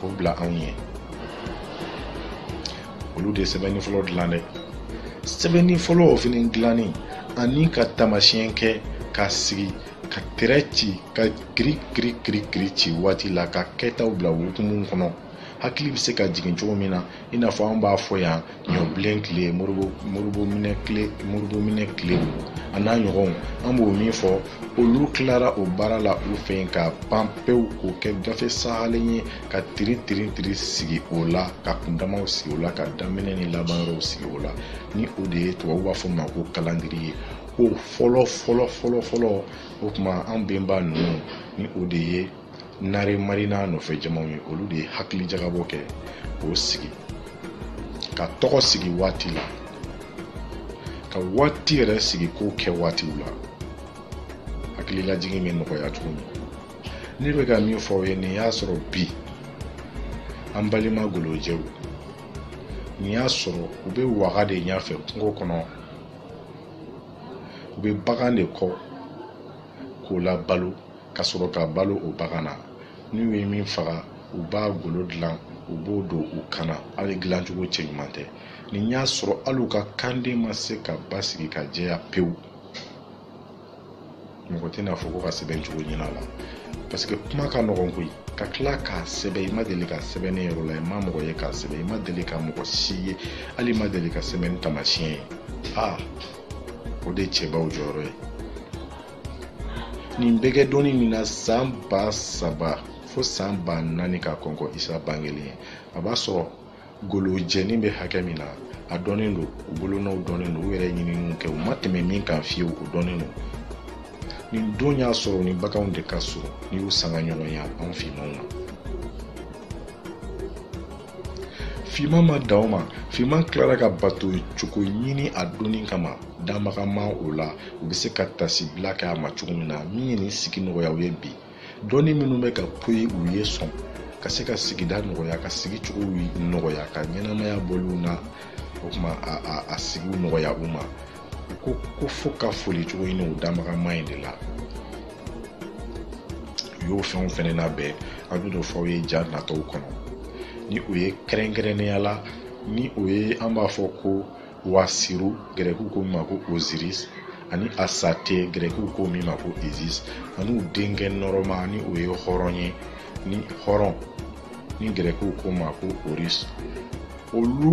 o bila anw ye olu de sɛbɛnni fɔlɔ dilan dɛ sɛbɛnni fɔlɔ o fana dilanni ani ka taamasiyɛn kɛ ka sigi ka tɛrɛ ci ka kiri kiri kiri kiri ci waati la ka kɛtaw bila o hukumu kɔnɔ hakili bɛ se ka jigin cogo min na i n'a fɔ an b'a fɔ yan ɲɔbilen tile moribominɛ tile moribominɛ tile a n'a ɲɔgɔnw an b'o min fɔ olu tilara o baara la u fɛ yen ka pan pewu k'o kɛ gafe sahalen ye ka tiri tiri tiri sigi o la ka kundamaw sigi o la ka daminɛ ni laban yɔrɔw sigi o la ni o de ye tubabu b'a fɔ ma ko kalandiri ye o fɔlɔ fɔlɔ fɔlɔ fɔlɔ o tuma an benba ninnu ni o de ye nare mari n'a nɔfɛ jamaw ye olu de ye hakili jagabɔ kɛ k'o sigi ka tɔgɔ sigi waati la ka waati yɛrɛ sigi ko kɛ waatiw la hakililajigin bɛ nɔgɔya cogo min ne bɛ ka min fɔ aw ye nin y'a sɔrɔ bi an balima golojɛw nin y'a sɔrɔ u bɛ waga de ɲɛfɛ kungo kɔnɔ u bɛ bagan de kɔ k'o labalo ka sɔrɔ ka balo o bagan na n'u ye min faga u b'a golo dilan u b'o don u kan na hali dilancogo cɛɲuman tɛ ni y'a sɔrɔ hali u ka kan ma se ka basigi ka jɛya pewu mɔgɔ tɛna fɔ ko ka sɛbɛn cogo ɲinin a la parce que kuma ka nɔgɔn koyi ka tila k'a sɛbɛn i ma deli ka sɛbɛn ye yɔrɔ la i ma mɔgɔ ye k'a sɛbɛn i ma deli ka mɔgɔ si ye hali i ma deli ka sɛbɛnni taamasiyɛn ye aa o de ye cɛbaw jɔyɔrɔ ye nin bɛ kɛ don min na san ba saba fo san ba naani ka kɔn kɔ isa bangelen ɲɛ a b'a sɔrɔ golojɛnin bɛ hakɛ min na a dɔnnen don u bolonɔw dɔnnen don u yɛrɛ ɲininiw kɛ u ma tɛmɛ min kan fiyewu o dɔnnen don nin don y'a sɔrɔ ni baganw de ka surun n'i y'u sangaɲɔgɔnya anw finmanw ma Fiman ma dan o ma fiman tilara ka bato cogo ɲini a dɔnni kama danbaga ma o la u bɛ se ka tasibila kɛ a ma cogo min na min ye nin sigi nɔgɔyaw ye bi dɔnni minnu bɛ ka poyi u ye sɔn ka se ka sigida nɔgɔya ka sigi cogo nɔgɔya ka ɲɛnamaya bɔliw na o tuma a sigiw nɔgɔya u ma ko k'o fo ka foli cogo ɲini o danbaga ma in de la u y'o fɛnw fɛnɛ labɛn an bɛ n'o fɔ aw ye ja natɔw kɔnɔ ni o ye kɛrɛnkɛrɛnnenya la ni o ye an b'a fɔ ko wasiru gɛrɛkiw ko min ma ko oziris ani asate gɛrɛkiw ko min ma ko izis ani u denkɛ nɔrɔma ni o ye hɔrɔn ye ni hɔrɔn ni gɛrɛkiw ko ma ko orus olu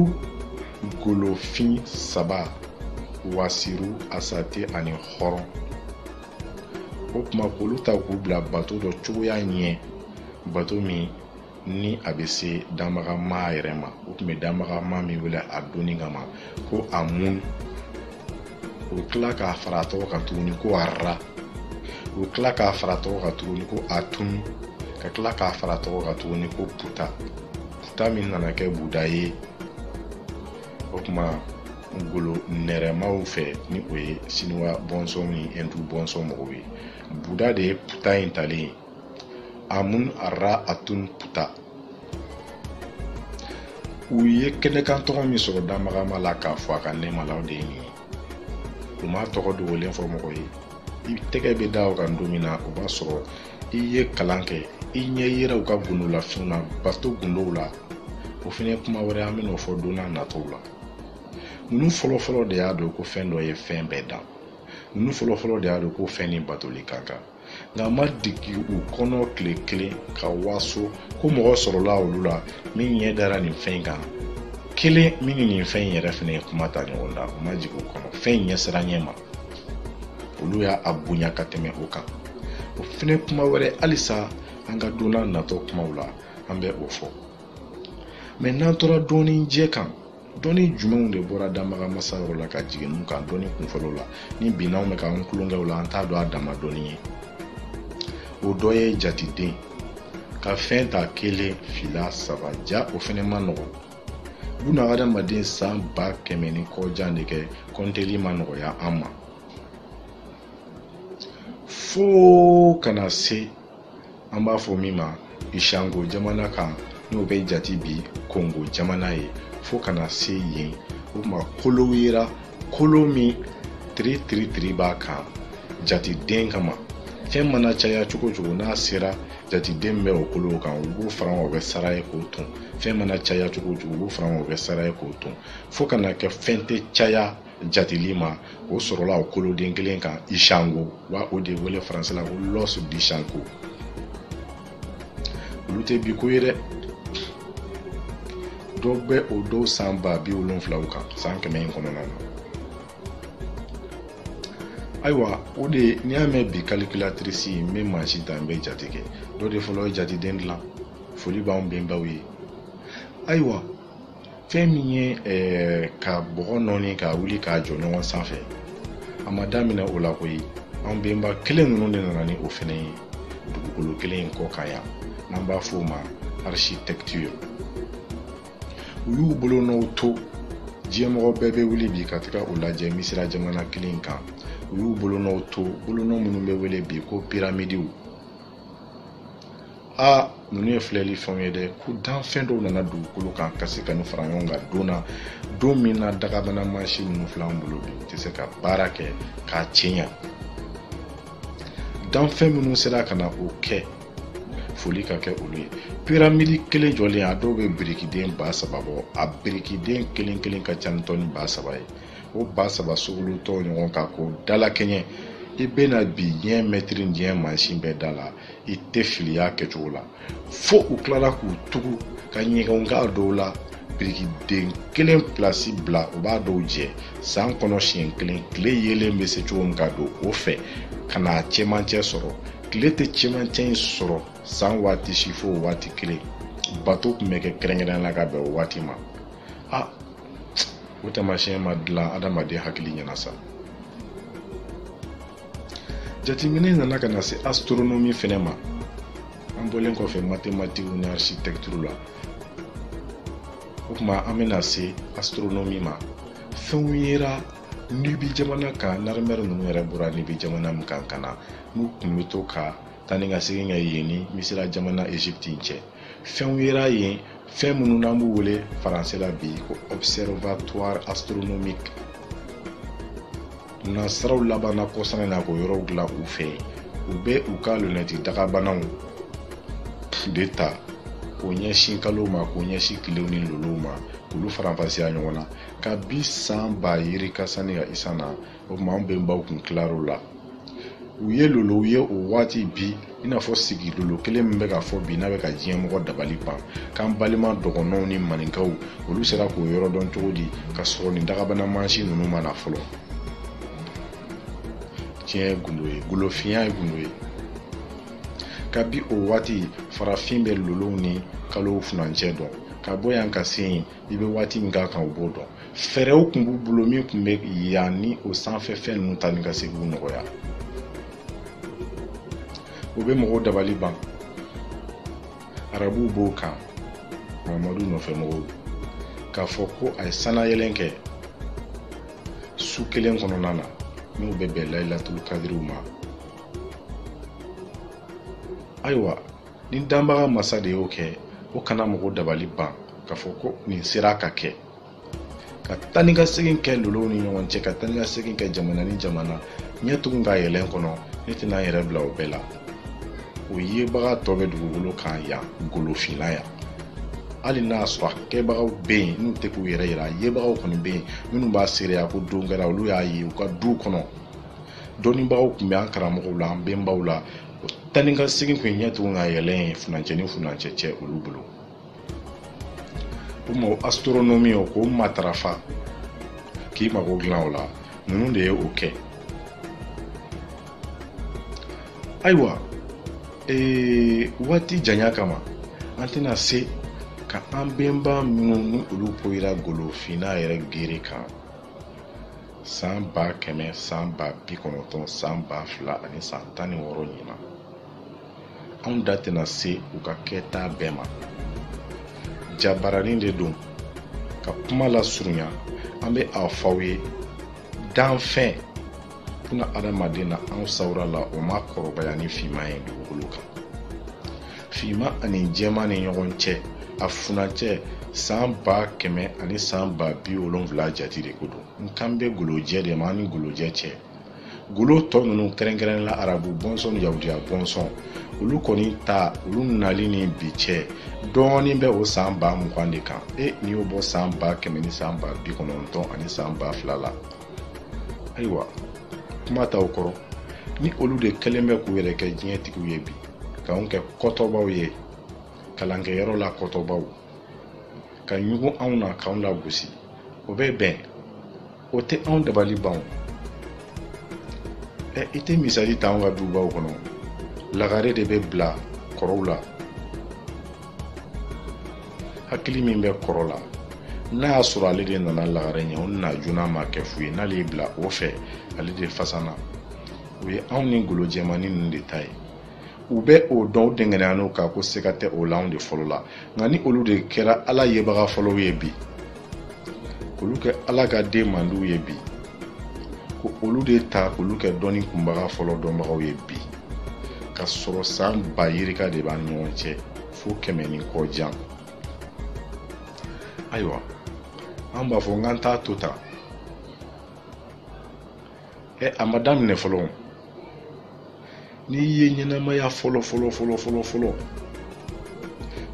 golofin saba wasiru asate ani hɔrɔn o kuma k'olu ta k'u bila bato dɔ cogoya ɲɛ bato min ni a bɛ se danbaga maa yɛrɛ ma u tun bɛ danbaga maa min wele a dɔnni kama ko amun u tila k'a fara a tɔgɔ kan tuguni ko arra u tila k'a fara tɔgɔ kan tuguni ko atun ka tila k'a fara tɔgɔ kan tuguni ko puta puta min nana kɛ buda ye o tuma golo nɛrɛmaw fɛ ni o ye siniwa bɔnsɔn ni ɛndu bɔnsɔn mɔgɔw ye buda de ye puta in talen ye amun arra atun puta u ye kɛnɛkan tɔgɔ min sɔrɔ danbaga maa la k'a fɔ a ka nɛɛma la o de ye nin ye u m'a tɔgɔ dogolen fɔ mɔgɔ ye i tɛgɛ bɛ da o kan don min na o b'a sɔrɔ i ye kalan kɛ i ɲɛ yɛlɛ u ka gundolafɛnw na bato gundow la o fɛnɛ ye kuma wɛrɛ an bɛn'o fɔ donna natɔw la ninnu fɔlɔfɔlɔ de y'a dɔn ko fɛn dɔ ye fɛn bɛɛ dan ninnu fɔlɔfɔlɔ de y'a dɔn ko fɛn ni batoli ka kan nk'a ma digi u kɔnɔ tile kelen ka waso ko mɔgɔ sɔrɔla olu la min ɲɛ dara nin fɛn in kan kelen min ni nin fɛn in yɛrɛ fana ye kuma ta ɲɔgɔn da o ma jigin u kɔnɔ fɛn in ɲɛsiranɲɛ ma olu y'a a bonya ka tɛmɛ o kan o fɛnɛ kuma wɛrɛ halisa an ka donna natɔ kumaw la an bɛ o fɔ mɛ n'an tora dɔnni jɛ kan dɔnni jumɛnw de bɔra danbaga masa yɔrɔ la ka jigin ninnu kan dɔnni kunfɔlɔ la ni bi na anw bɛ ka an tulonkɛ o la an t'a dɔn a dama dɔnni ye o dɔ ye jateden ka fɛn ta kelen fila saba jaa o fɛnɛ man nɔgɔn bunadamaden san ba kɛmɛ ni kɔjan de kɛ kɔnteli ma nɔgɔya an ma fo ka na se an b'a fɔ min ma ishango jamana kan n'o bɛ jati bi kongo jamana ye fo ka na se yen o tuma kolow yera kolo min tiri tiri tiri b'a kan jatiden kama fɛn mana caya cogo cogo n'a sera jatiden bɛ o kolow kan u b'o fara k'a kɛ sara ye k'o ton fɛn mana caya cogo cogo u b'o fara k'a kɛ sara ye k'o ton fo ka na kɛ fɛn tɛ caya jateli ma o sɔrɔla o koloden kelen kan ishango wa o de wele faransi la ko l'os d'ishango olu tɛ bi ko ye dɛ dɔ bɛ o don san ba bi wolonfila kan san kɛmɛ in kɔnɔna na ayiwa o de n'i y'a mɛn bi calculatrice an bɛ mansin ta an bɛ jate kɛ dɔ de fɔlɔ ye jateden dilan foli b'anw bɛnbaw ye ayiwa fɛn min ye eh, ka bɔgɔ nɔɔni k'a wuli k'a jɔ ɲɔgɔn sanfɛ a ma daminɛ o la koyi an benba kelen ninnu de nana ni o fɛnɛ ye dugukolo kelen in kɔ kan yan n'an b'a fɔ o ma architecture u y'u bolonɔw to diɲɛmɔgɔ bɛɛ bɛ wuli bi ka taga u lajɛ misira jamana kelen in kan u y'u bolonɔw to bolonɔ minnu bɛ wele bi ko piramidiw aa ninnu ye filɛli fɛnw ye dɛ ko danfɛn dɔw nana dugukolo kan ka se ka nin fara ɲɔgɔn kan don na don min na dagabana mansin ninnu filɛ an bolo bi u tɛ se ka baara kɛ k'a cɛɲa danfɛn minnu sera ka na o kɛ foli ka kɛ olu ye piramidi kelen jɔlen a dɔw bɛ birikiden ba saba bɔ a birikiden kelen kelen ka ca ni tɔni ba saba ye o ba saba sogolontɔ ɲɔgɔn kan k'o dalakɛɲɛ i bɛna bi diɲɛ mɛtiri diɲɛ mansin bɛɛ d'a la i tɛ fili y'a kɛcogo la fo u tilala k'u tugu ka ɲɛgɛnw k'a dɔw la birikiden kelen pilasi bila u b'a dɔw jɛ san kɔnɔ siɲɛ kelen tile yeelen bɛ se cogo min ka don o fɛ ka n'a cɛmancɛ sɔrɔ tile tɛ cɛmancɛ in sɔrɔ san waati si fo waati kelen bato tun bɛ kɛ kɛrɛnkɛrɛnnenya la ka bɛn o waati ma a o taamasiyɛn ma dilan adamaden hakili ɲɛna sa jateminɛ nana ka na se astronomi fɛnɛ ma an bɔlen kɔfɛ matematiki ni architecture la o tuma an bɛna se astronomi ma fɛnw yera nibi jamana kan narimɛri ninnu yɛrɛ bɔra nibi jamana min kan ka na n'u tun bɛ to ka taa ni ka segin kɛ yen ni misira jamana egypte cɛ fɛnw yera yen fɛn minnu n'an b'u wele faransɛ la bi ko observatoire astronomique nansaraw labanna kɔsa in na k'o yɔrɔw dilan u fɛ u bɛ u ka lunɛti dagabanaw de ta k'o ɲɛsin kalow ma k'o ɲɛsin tilew ni lolow ma k'olu faranfasiya ɲɔgɔn na kabi san ba yirika sanni ka isa na o tuma an benbaw kun tilar'o la u ye lolow ye o waati bi i n'a fɔ sigi lolo kelen min bɛ ka fɔ bi n'a bɛ ka diɲɛ mɔgɔ dabali ban k'an balima dɔgɔnɔw ni maninkaw olu sera k'o yɔrɔ dɔn cogo di ka sɔrɔ nin dagabana mansin ninnu ma na fɔlɔ tiɲɛ ye gundo ye golofinya ye gundo ye kabi o waati farafin bɛ lolow ni kalow furancɛ dɔn ka bɔ yan ka se yen i bɛ waati min k'a kan u b'o dɔn fɛɛrɛw tun b'u bolo min tun bɛ yan ni o sanfɛ fɛn ninnu taa ni ka seginw nɔgɔya o bɛ mɔgɔw dabali ban arabuw b'o kan mahamadu nɔfɛ mɔgɔw k'a fɔ ko a ye sannayɛlɛn kɛ su kelen kɔnɔna na n'u bɛ bɛn layilatulu kadiriw ma ayiwa ni danbaga masa de y'o kɛ o kana mɔgɔ dabali ban k'a fɔ ko nin sera ka kɛ ka taa ni ka segin kɛ lolow ni ɲɔgɔn cɛ ka taa ni ka segin kɛ jamana ni jamana ɲɛ tugu k'a yɛlɛn kɔnɔ ne tɛna n yɛrɛ bila o bɛɛ la o yebaga tɔ bɛ dugukolo kan yan golofinna yan hali n'a y'a sɔrɔ a kɛbagaw bɛ yen n'u tɛ k'u yɛrɛ yira a yebagaw kɔni bɛ yen minnu b'a seereya ko don kɛra olu y'a ye u ka duw kɔnɔ dɔnnibagaw tun bɛ an karamɔgɔw la an bɛnbaw la taa ni ka segin kun ɲɛ tugu k'a yɛlɛ ye funancɛ ni funancɛ cɛ olu bolo o ma astronomi o k'o matarafa k'i mago dilan o la ninnu de ye o kɛ ayiwa ee waati janya kama an tɛna se ka an bɛnba minnu ni olu poyira golofinna yɛrɛ gere kan san ba kɛmɛ san ba bi kɔnɔntɔn san ba fila ani san tan ni wɔɔrɔ ɲinan anw da tɛna se u ka kɛta bɛɛ ma jabaranin de don ka kuma lasurunya an bɛ a fɔ aw ye danfɛn kunna adamaden na an sawura la o ma kɔrɔbaya ni finman ye dugukolo kan finman ani jɛman ni ɲɔgɔn cɛ a funancɛ san ba kɛmɛ ani san ba bi wolonfila jati de ko don n kan bɛ golojɛ de ma an ni golojɛ cɛ golo tɔ ninnu kɛrɛnkɛrɛnnen la arabu bɔnsɔn ni yahudiya bɔnsɔn olu kɔni ta olu nali ni bi cɛ dɔɔnin bɛ o san ba mugan de kan e n'i y'o bɔ san ba kɛmɛ ni san ba bi kɔnɔntɔn ani san ba fila la ayiwa kuma t'aw kɔrɔ ni olu de kɛlen bɛ k'u yɛrɛ kɛ diɲɛ tigiw ye bi k'anw kɛ kɔtɔbaw ye kalankɛyɔrɔ la kɔtɔbaw ka ɲugun anw na k'anw lagosi o bɛ bɛn o tɛ anw dabali ban ɛ i tɛ misali ta anw ka dubaw kɔnɔ lagare de bɛ bila kɔrɔw la hakili min bɛ kɔrɔ la n'a y'a sɔrɔ ale de nana lagare ɲɛ o na joona ma kɛ fu ye n'ale y'i bila o fɛ ale de fisa n'o ye anw ni golo jɛmannin ninnu de ta ye u bɛ o dɔn u dɛngɛnɛya n'o kan ko siga tɛ o la anw de fɔlɔla nka ni olu de kɛra ala yebaga fɔlɔw ye bi k'olu kɛ ala ka den mandiw ye bi ko olu de ta k'olu kɛ dɔnni kunbaba fɔlɔ dɔnbagaw ye bi ka sɔrɔ san ba yirika de b'an ɲɔgɔn cɛ fo kɛmɛ ni kɔ jan ayiwa an b'a fɔ nka an t'a to tan ɛ a ma daminɛ fɔlɔ n'i ye ɲɛnamaya fɔlɔ fɔlɔ fɔlɔ fɔlɔ fɔlɔ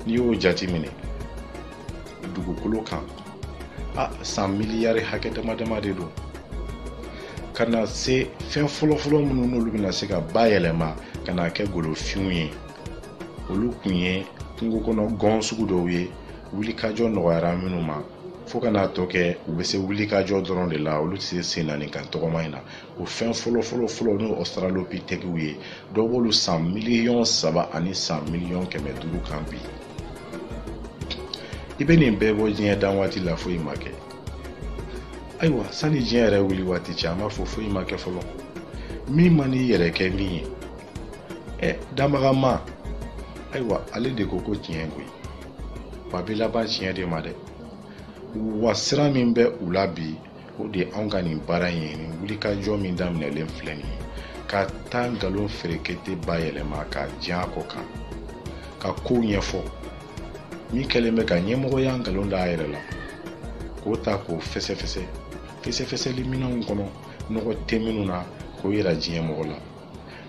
n'i y'o jateminɛ dugukolo kan a san miliyari hakɛ dama dama de don ka na se fɛn fɔlɔ fɔlɔ minnu n'olu bɛna se ka bayɛlɛma ka na kɛ golofinw ye olu kun ye kungo kɔnɔ gɔn sugu dɔw ye wulikajɔ nɔgɔyara minnu ma fo ka n'a tɔ kɛ u bɛ se wuli ka jɔ dɔrɔn de la olu tɛ se sen naani kan tɔgɔma in na o fɛn fɔlɔ fɔlɔ fɔlɔ n'o ɔstralopitɛkiw ye dɔ b'olu san miliyɔn saba ani san miliyɔn kɛmɛ duuru kan bi i bɛ nin bɛɛ bɔ diɲɛ dan waati la foyi ma kɛ ayiwa sani diɲɛ yɛrɛ wuli waati cɛ an b'a fɔ foyi ma kɛ fɔlɔ min man'i yɛrɛ kɛ min ye ɛ danbaga ma ayiwa ale de ko ko tiɲɛ koyi wa a bɛ laban tiɲɛ de ma dɛ wa siran min bɛ u la bi o de ye anw ka nin baara in ye nin wulikajɔ min daminɛlen filɛ nin ye ka taa nkalon ferekete bayɛlɛma k'a jan a kɔ kan ka kow ɲɛfɔ min kɛlen bɛ ka ɲɛmɔgɔya nkalon da a yɛrɛ la k'o ta k'o fɛsɛfɛsɛ fɛsɛfɛsɛli minɛnw kɔnɔ nɔgɔ tɛ minnu na k'o yira diɲɛ mɔgɔ la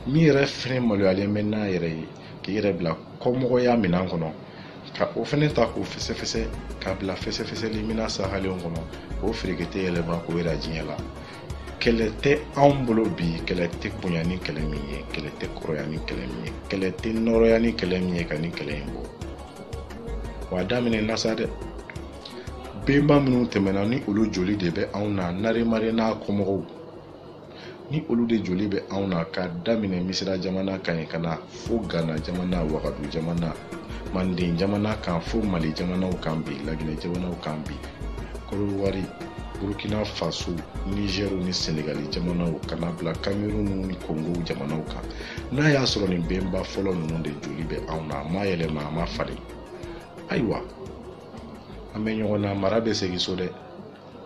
min yɛrɛ fɛnɛ maloyalen bɛ n'a yɛrɛ ye k'i yɛrɛ bila kɔmɔgɔya minɛn kɔnɔ ka o fɛnɛ ta k'o fɛsɛfɛsɛ k'a bila fɛsɛfɛsɛli minɛn sahalenw kɔnɔ k'o ferekete yɛlɛma k'o yira diɲɛ la kɛlɛ tɛ anw bolo bi kɛlɛ tɛ bonya ni kɛlɛ min ye kɛlɛ tɛ kɔrɔya ni kɛlɛ min ye kɛlɛ tɛ nɔrɔya ni kɛlɛ min ye ka nin kɛlɛ in bɔ wa a daminɛna sa dɛ bɛnba minnu tɛmɛna ni olu joli de bɛ anw na narimare n'a kɔmɔgɔw ni olu de joli bɛ anw na ka daminɛ misira jamana kan yen ka na fo gana jamana wagadu jamana manden jamana kan fo mali jamanaw kan bi laginɛ jamanaw kan bi kɔdiwari burkina faso nizɛriw ni senegali jamanaw ka na bila kamerun ni kongo jamanaw kan n'a y'a sɔrɔ nin bɛnba fɔlɔ ninnu de joli bɛ anw na a ma yɛlɛma a ma falen ayiwa an bɛ ɲɔgɔn na mara bɛ segin so dɛ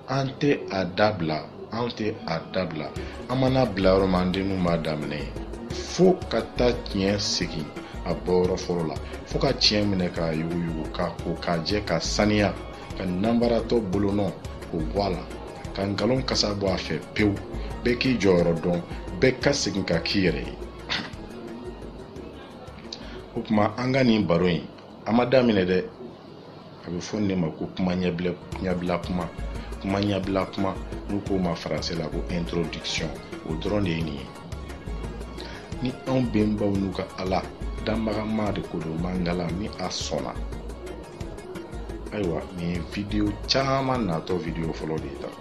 an tɛ a dabila an tɛ a dabila an man'a bila yɔrɔ min an denw b'a daminɛ yen fo ka taa tiɲɛ segin a bɔyɔrɔ fɔlɔ la fo ka tiɲɛ minɛ k'a yuguyugu k'a ko k'a jɛ k'a saniya ka nanbaratɔ bolonɔ k'o bɔ a la ka nkalon kasa bɔ a fɛ pewu bɛɛ k'i jɔyɔrɔ dɔn bɛɛ ka segin ka k'i yɛrɛ ye o tuma an ka nin baro in a ma daminɛ dɛ a bɛ fɔ nin de ma ko kuma ɲɛbila ɲɛbila kuma kuma ɲɛbila kuma n'u k'o ma faransi la ko introduction o dɔrɔn de ye nin ye ni anw bɛnbaw n'u ka ala danbagama de ko don mangala ni a sɔnna ayiwa nin ye video caman natɔ video fɔlɔ de ye tan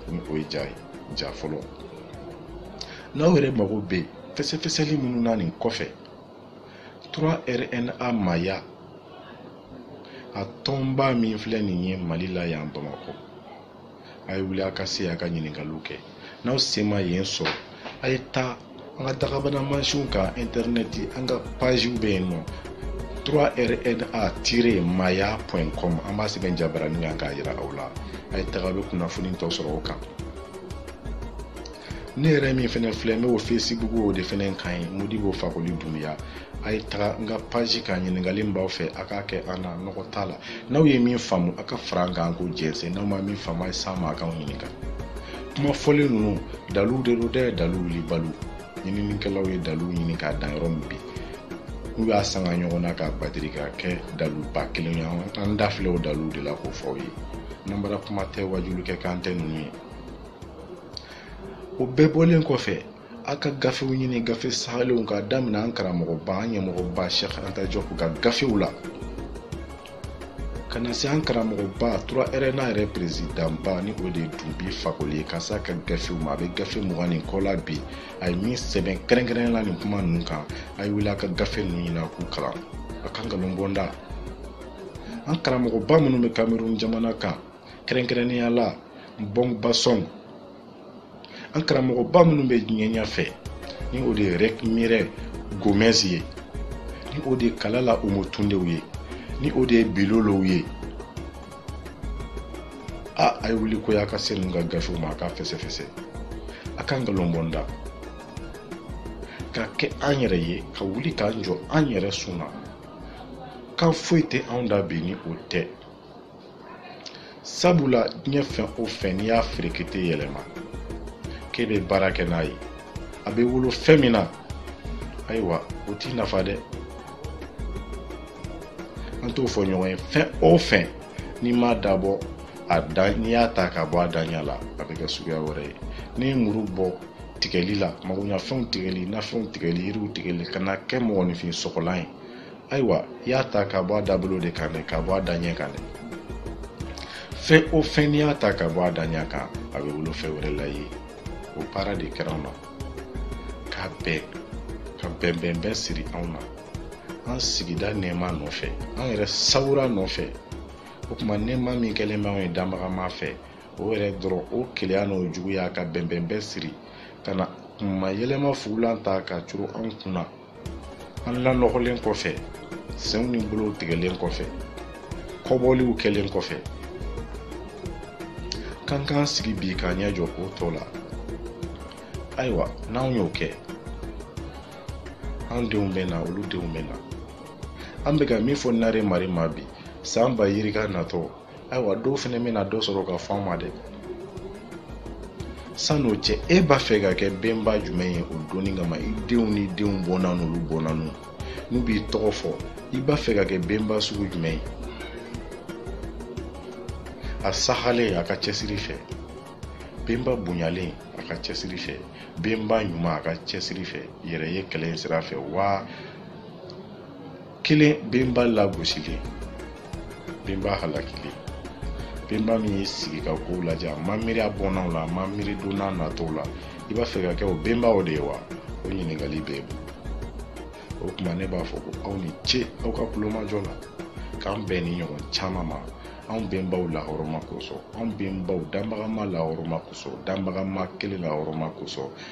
ni o ye ja ye ja fɔlɔ n'aw yɛrɛ mago bɛ fɛsɛfɛsɛli minnu na nin kɔfɛ 3 rna maaya a tɔnba min filɛ nin ye mali la yan bamakɔ a ye wuli a ka se a ka ɲininkaliw kɛ n'aw se ma yen sɔrɔ a ye taa an ka dakabana mansinw kan intɛrɛnɛti an ka paziw bɛ yen nɔ 3rna-maaya.com an b'a sɛbɛn jabaranin kan k'a jira aw la a ye taga bɛ kunnafoni tɔ sɔrɔ o kan ne yɛrɛ min fɛnɛ filɛ n bɛ o facebook o de fɛnɛ kan ye modibo fakoli dunbiya a ye taga n ka paji kan ɲininkali min b'aw fɛ a k'a kɛ an na nɔgɔ t'a la n'aw ye min faamu a ka fara an kan k'o jɛnsɛn n'aw ma min faamu a ye s'an ma a k'anw ɲininka kuma fɔlen ninnu daliluw de don dɛ dalilu wulibaliw ɲininikɛlaw ye daliluw ɲini ka dan yɔrɔ min bi n'u y'a sanga ɲɔgɔn na k'a batiri ka kɛ daliluba kelen ye an da filɛ o dalilu de la k'o fɔ aw ye nanbara kuma tɛ wajulikɛ kan tɛ ninnu ye o bɛɛ bɔlen kɔfɛ a ka gafew ɲini gafe sahalenw k'a daminɛ an karamɔgɔba an ɲɛmɔgɔba sɛk anta jɔp ka gafew la ka na se an karamɔgɔba 3 rna yɛrɛ perezidanba ni o de ye dunbi fakoli ye ka se a ka gafew ma a bɛ gafe mugan ni kɔ la bi a ye min sɛbɛn kɛrɛnkɛrɛn la nin kuma ninnu kan a ye wuli a ka gafe ninnu ɲini a k'u kalan a ka nkalon bɔ an da an karamɔgɔba minnu bɛ kamerun jamana kan kɛrɛnkɛrɛnnenya la mbɔg basɔn an karamɔgɔba minnu bɛ diɲɛ ɲɛfɛ ni o de ye rɛkmirɛ gomɛz ye ni o de ye kalala omotundew ye ni o de ye bilolow ye a a ye wuli koyi a ka se ninnu ka gafew ma a k'a fɛsɛfɛsɛ a ka nkalon bɔ an da ka kɛ an yɛrɛ ye ka wuli k'an jɔ an yɛrɛ sunna kan foyi tɛ anw da bi ni o tɛ sabula diɲɛ fɛn o fɛn n'i y'a feere k'i tɛ yɛlɛma k'e bɛ baara kɛ n'a ye a bɛ wolo fɛn min na ayiwa o t'i nafa dɛ an t'o fɔ ɲɔgɔn ye fɛn o fɛn n'i m'a dabɔ a da n'i y'a ta ka bɔ a daɲa la a bɛ kɛ suguya wɛrɛ ye n'i ye muru bɔ tigɛli la magoɲafɛnw tigɛli nafɛnw tigɛli yiriw tigɛli ka na kɛ mɔgɔninfin sɔgɔlan ye ayiwa i y'a ta ka bɔ a dabolo de kan dɛ ka bɔ a daɲɛ kan dɛ fɛn o fɛn n'i y'a ta ka bɔ a daɲɛ kan a bɛ wolo fɛn wɛrɛ la ye o baara de kɛra anw na ka bɛn ka bɛnbɛnbɛn siri anw na an sigida nɛɛma nɔfɛ an yɛrɛ sawura nɔfɛ o tuma nɛɛma min kɛlen bɛ anw ye danbagama fɛ o yɛrɛ dɔrɔn o keleya n'o juguya ka bɛnbɛnbɛn siri ka na kunmayɛlɛma fugulan ta ka curu anw kun na an lanɔgɔlen kɔfɛ senw ni bolow tigɛlen kɔfɛ kɔbɔliw kɛlen kɔfɛ k'an k'an sigi bi k'an ɲɛ jɔ o tɔ la ayiwa n'anw y'o kɛ an denw bɛ na olu denw bɛ na an bɛ ka min fɔ nare mari ma bi san ba yirika natɔ ayiwa dɔw fɛnɛ bɛna dɔ sɔrɔ ka fɔ an ma dɛ san'o cɛ e b'a fɛ ka kɛ bɛnba jumɛn ye o don nin kama i denw n'i denw bɔnna n'olu bɔnna n'u n'u b'i tɔgɔ fɔ i b'a fɛ ka kɛ bɛnba sugu jumɛn ye a sahalen a ka cɛsiri fɛ benba bonyalen a ka cɛsiri fɛ benba ɲuman a ka cɛsiri fɛ yɛrɛ ye kɛlɛ in sira fɛ wa kelen benba lagosilen benba halakilen benba min y'i sigi ka kow lajɛ a ma miiri a bɔnnaw la a ma miiri don na natɔw la i b'a fɛ ka kɛ o benbaw de ye wa o ɲininkali bɛ yen o tuma ne b'a fɔ ko aw ni ce aw ka kulomajɔ la k'an bɛn nin ɲɔgɔn caman ma anw bɛnbaw lahɔrɔma kosɔn anw bɛnbaw danbagama lahɔrɔma kosɔn danbagama kelen lahɔrɔma kosɔn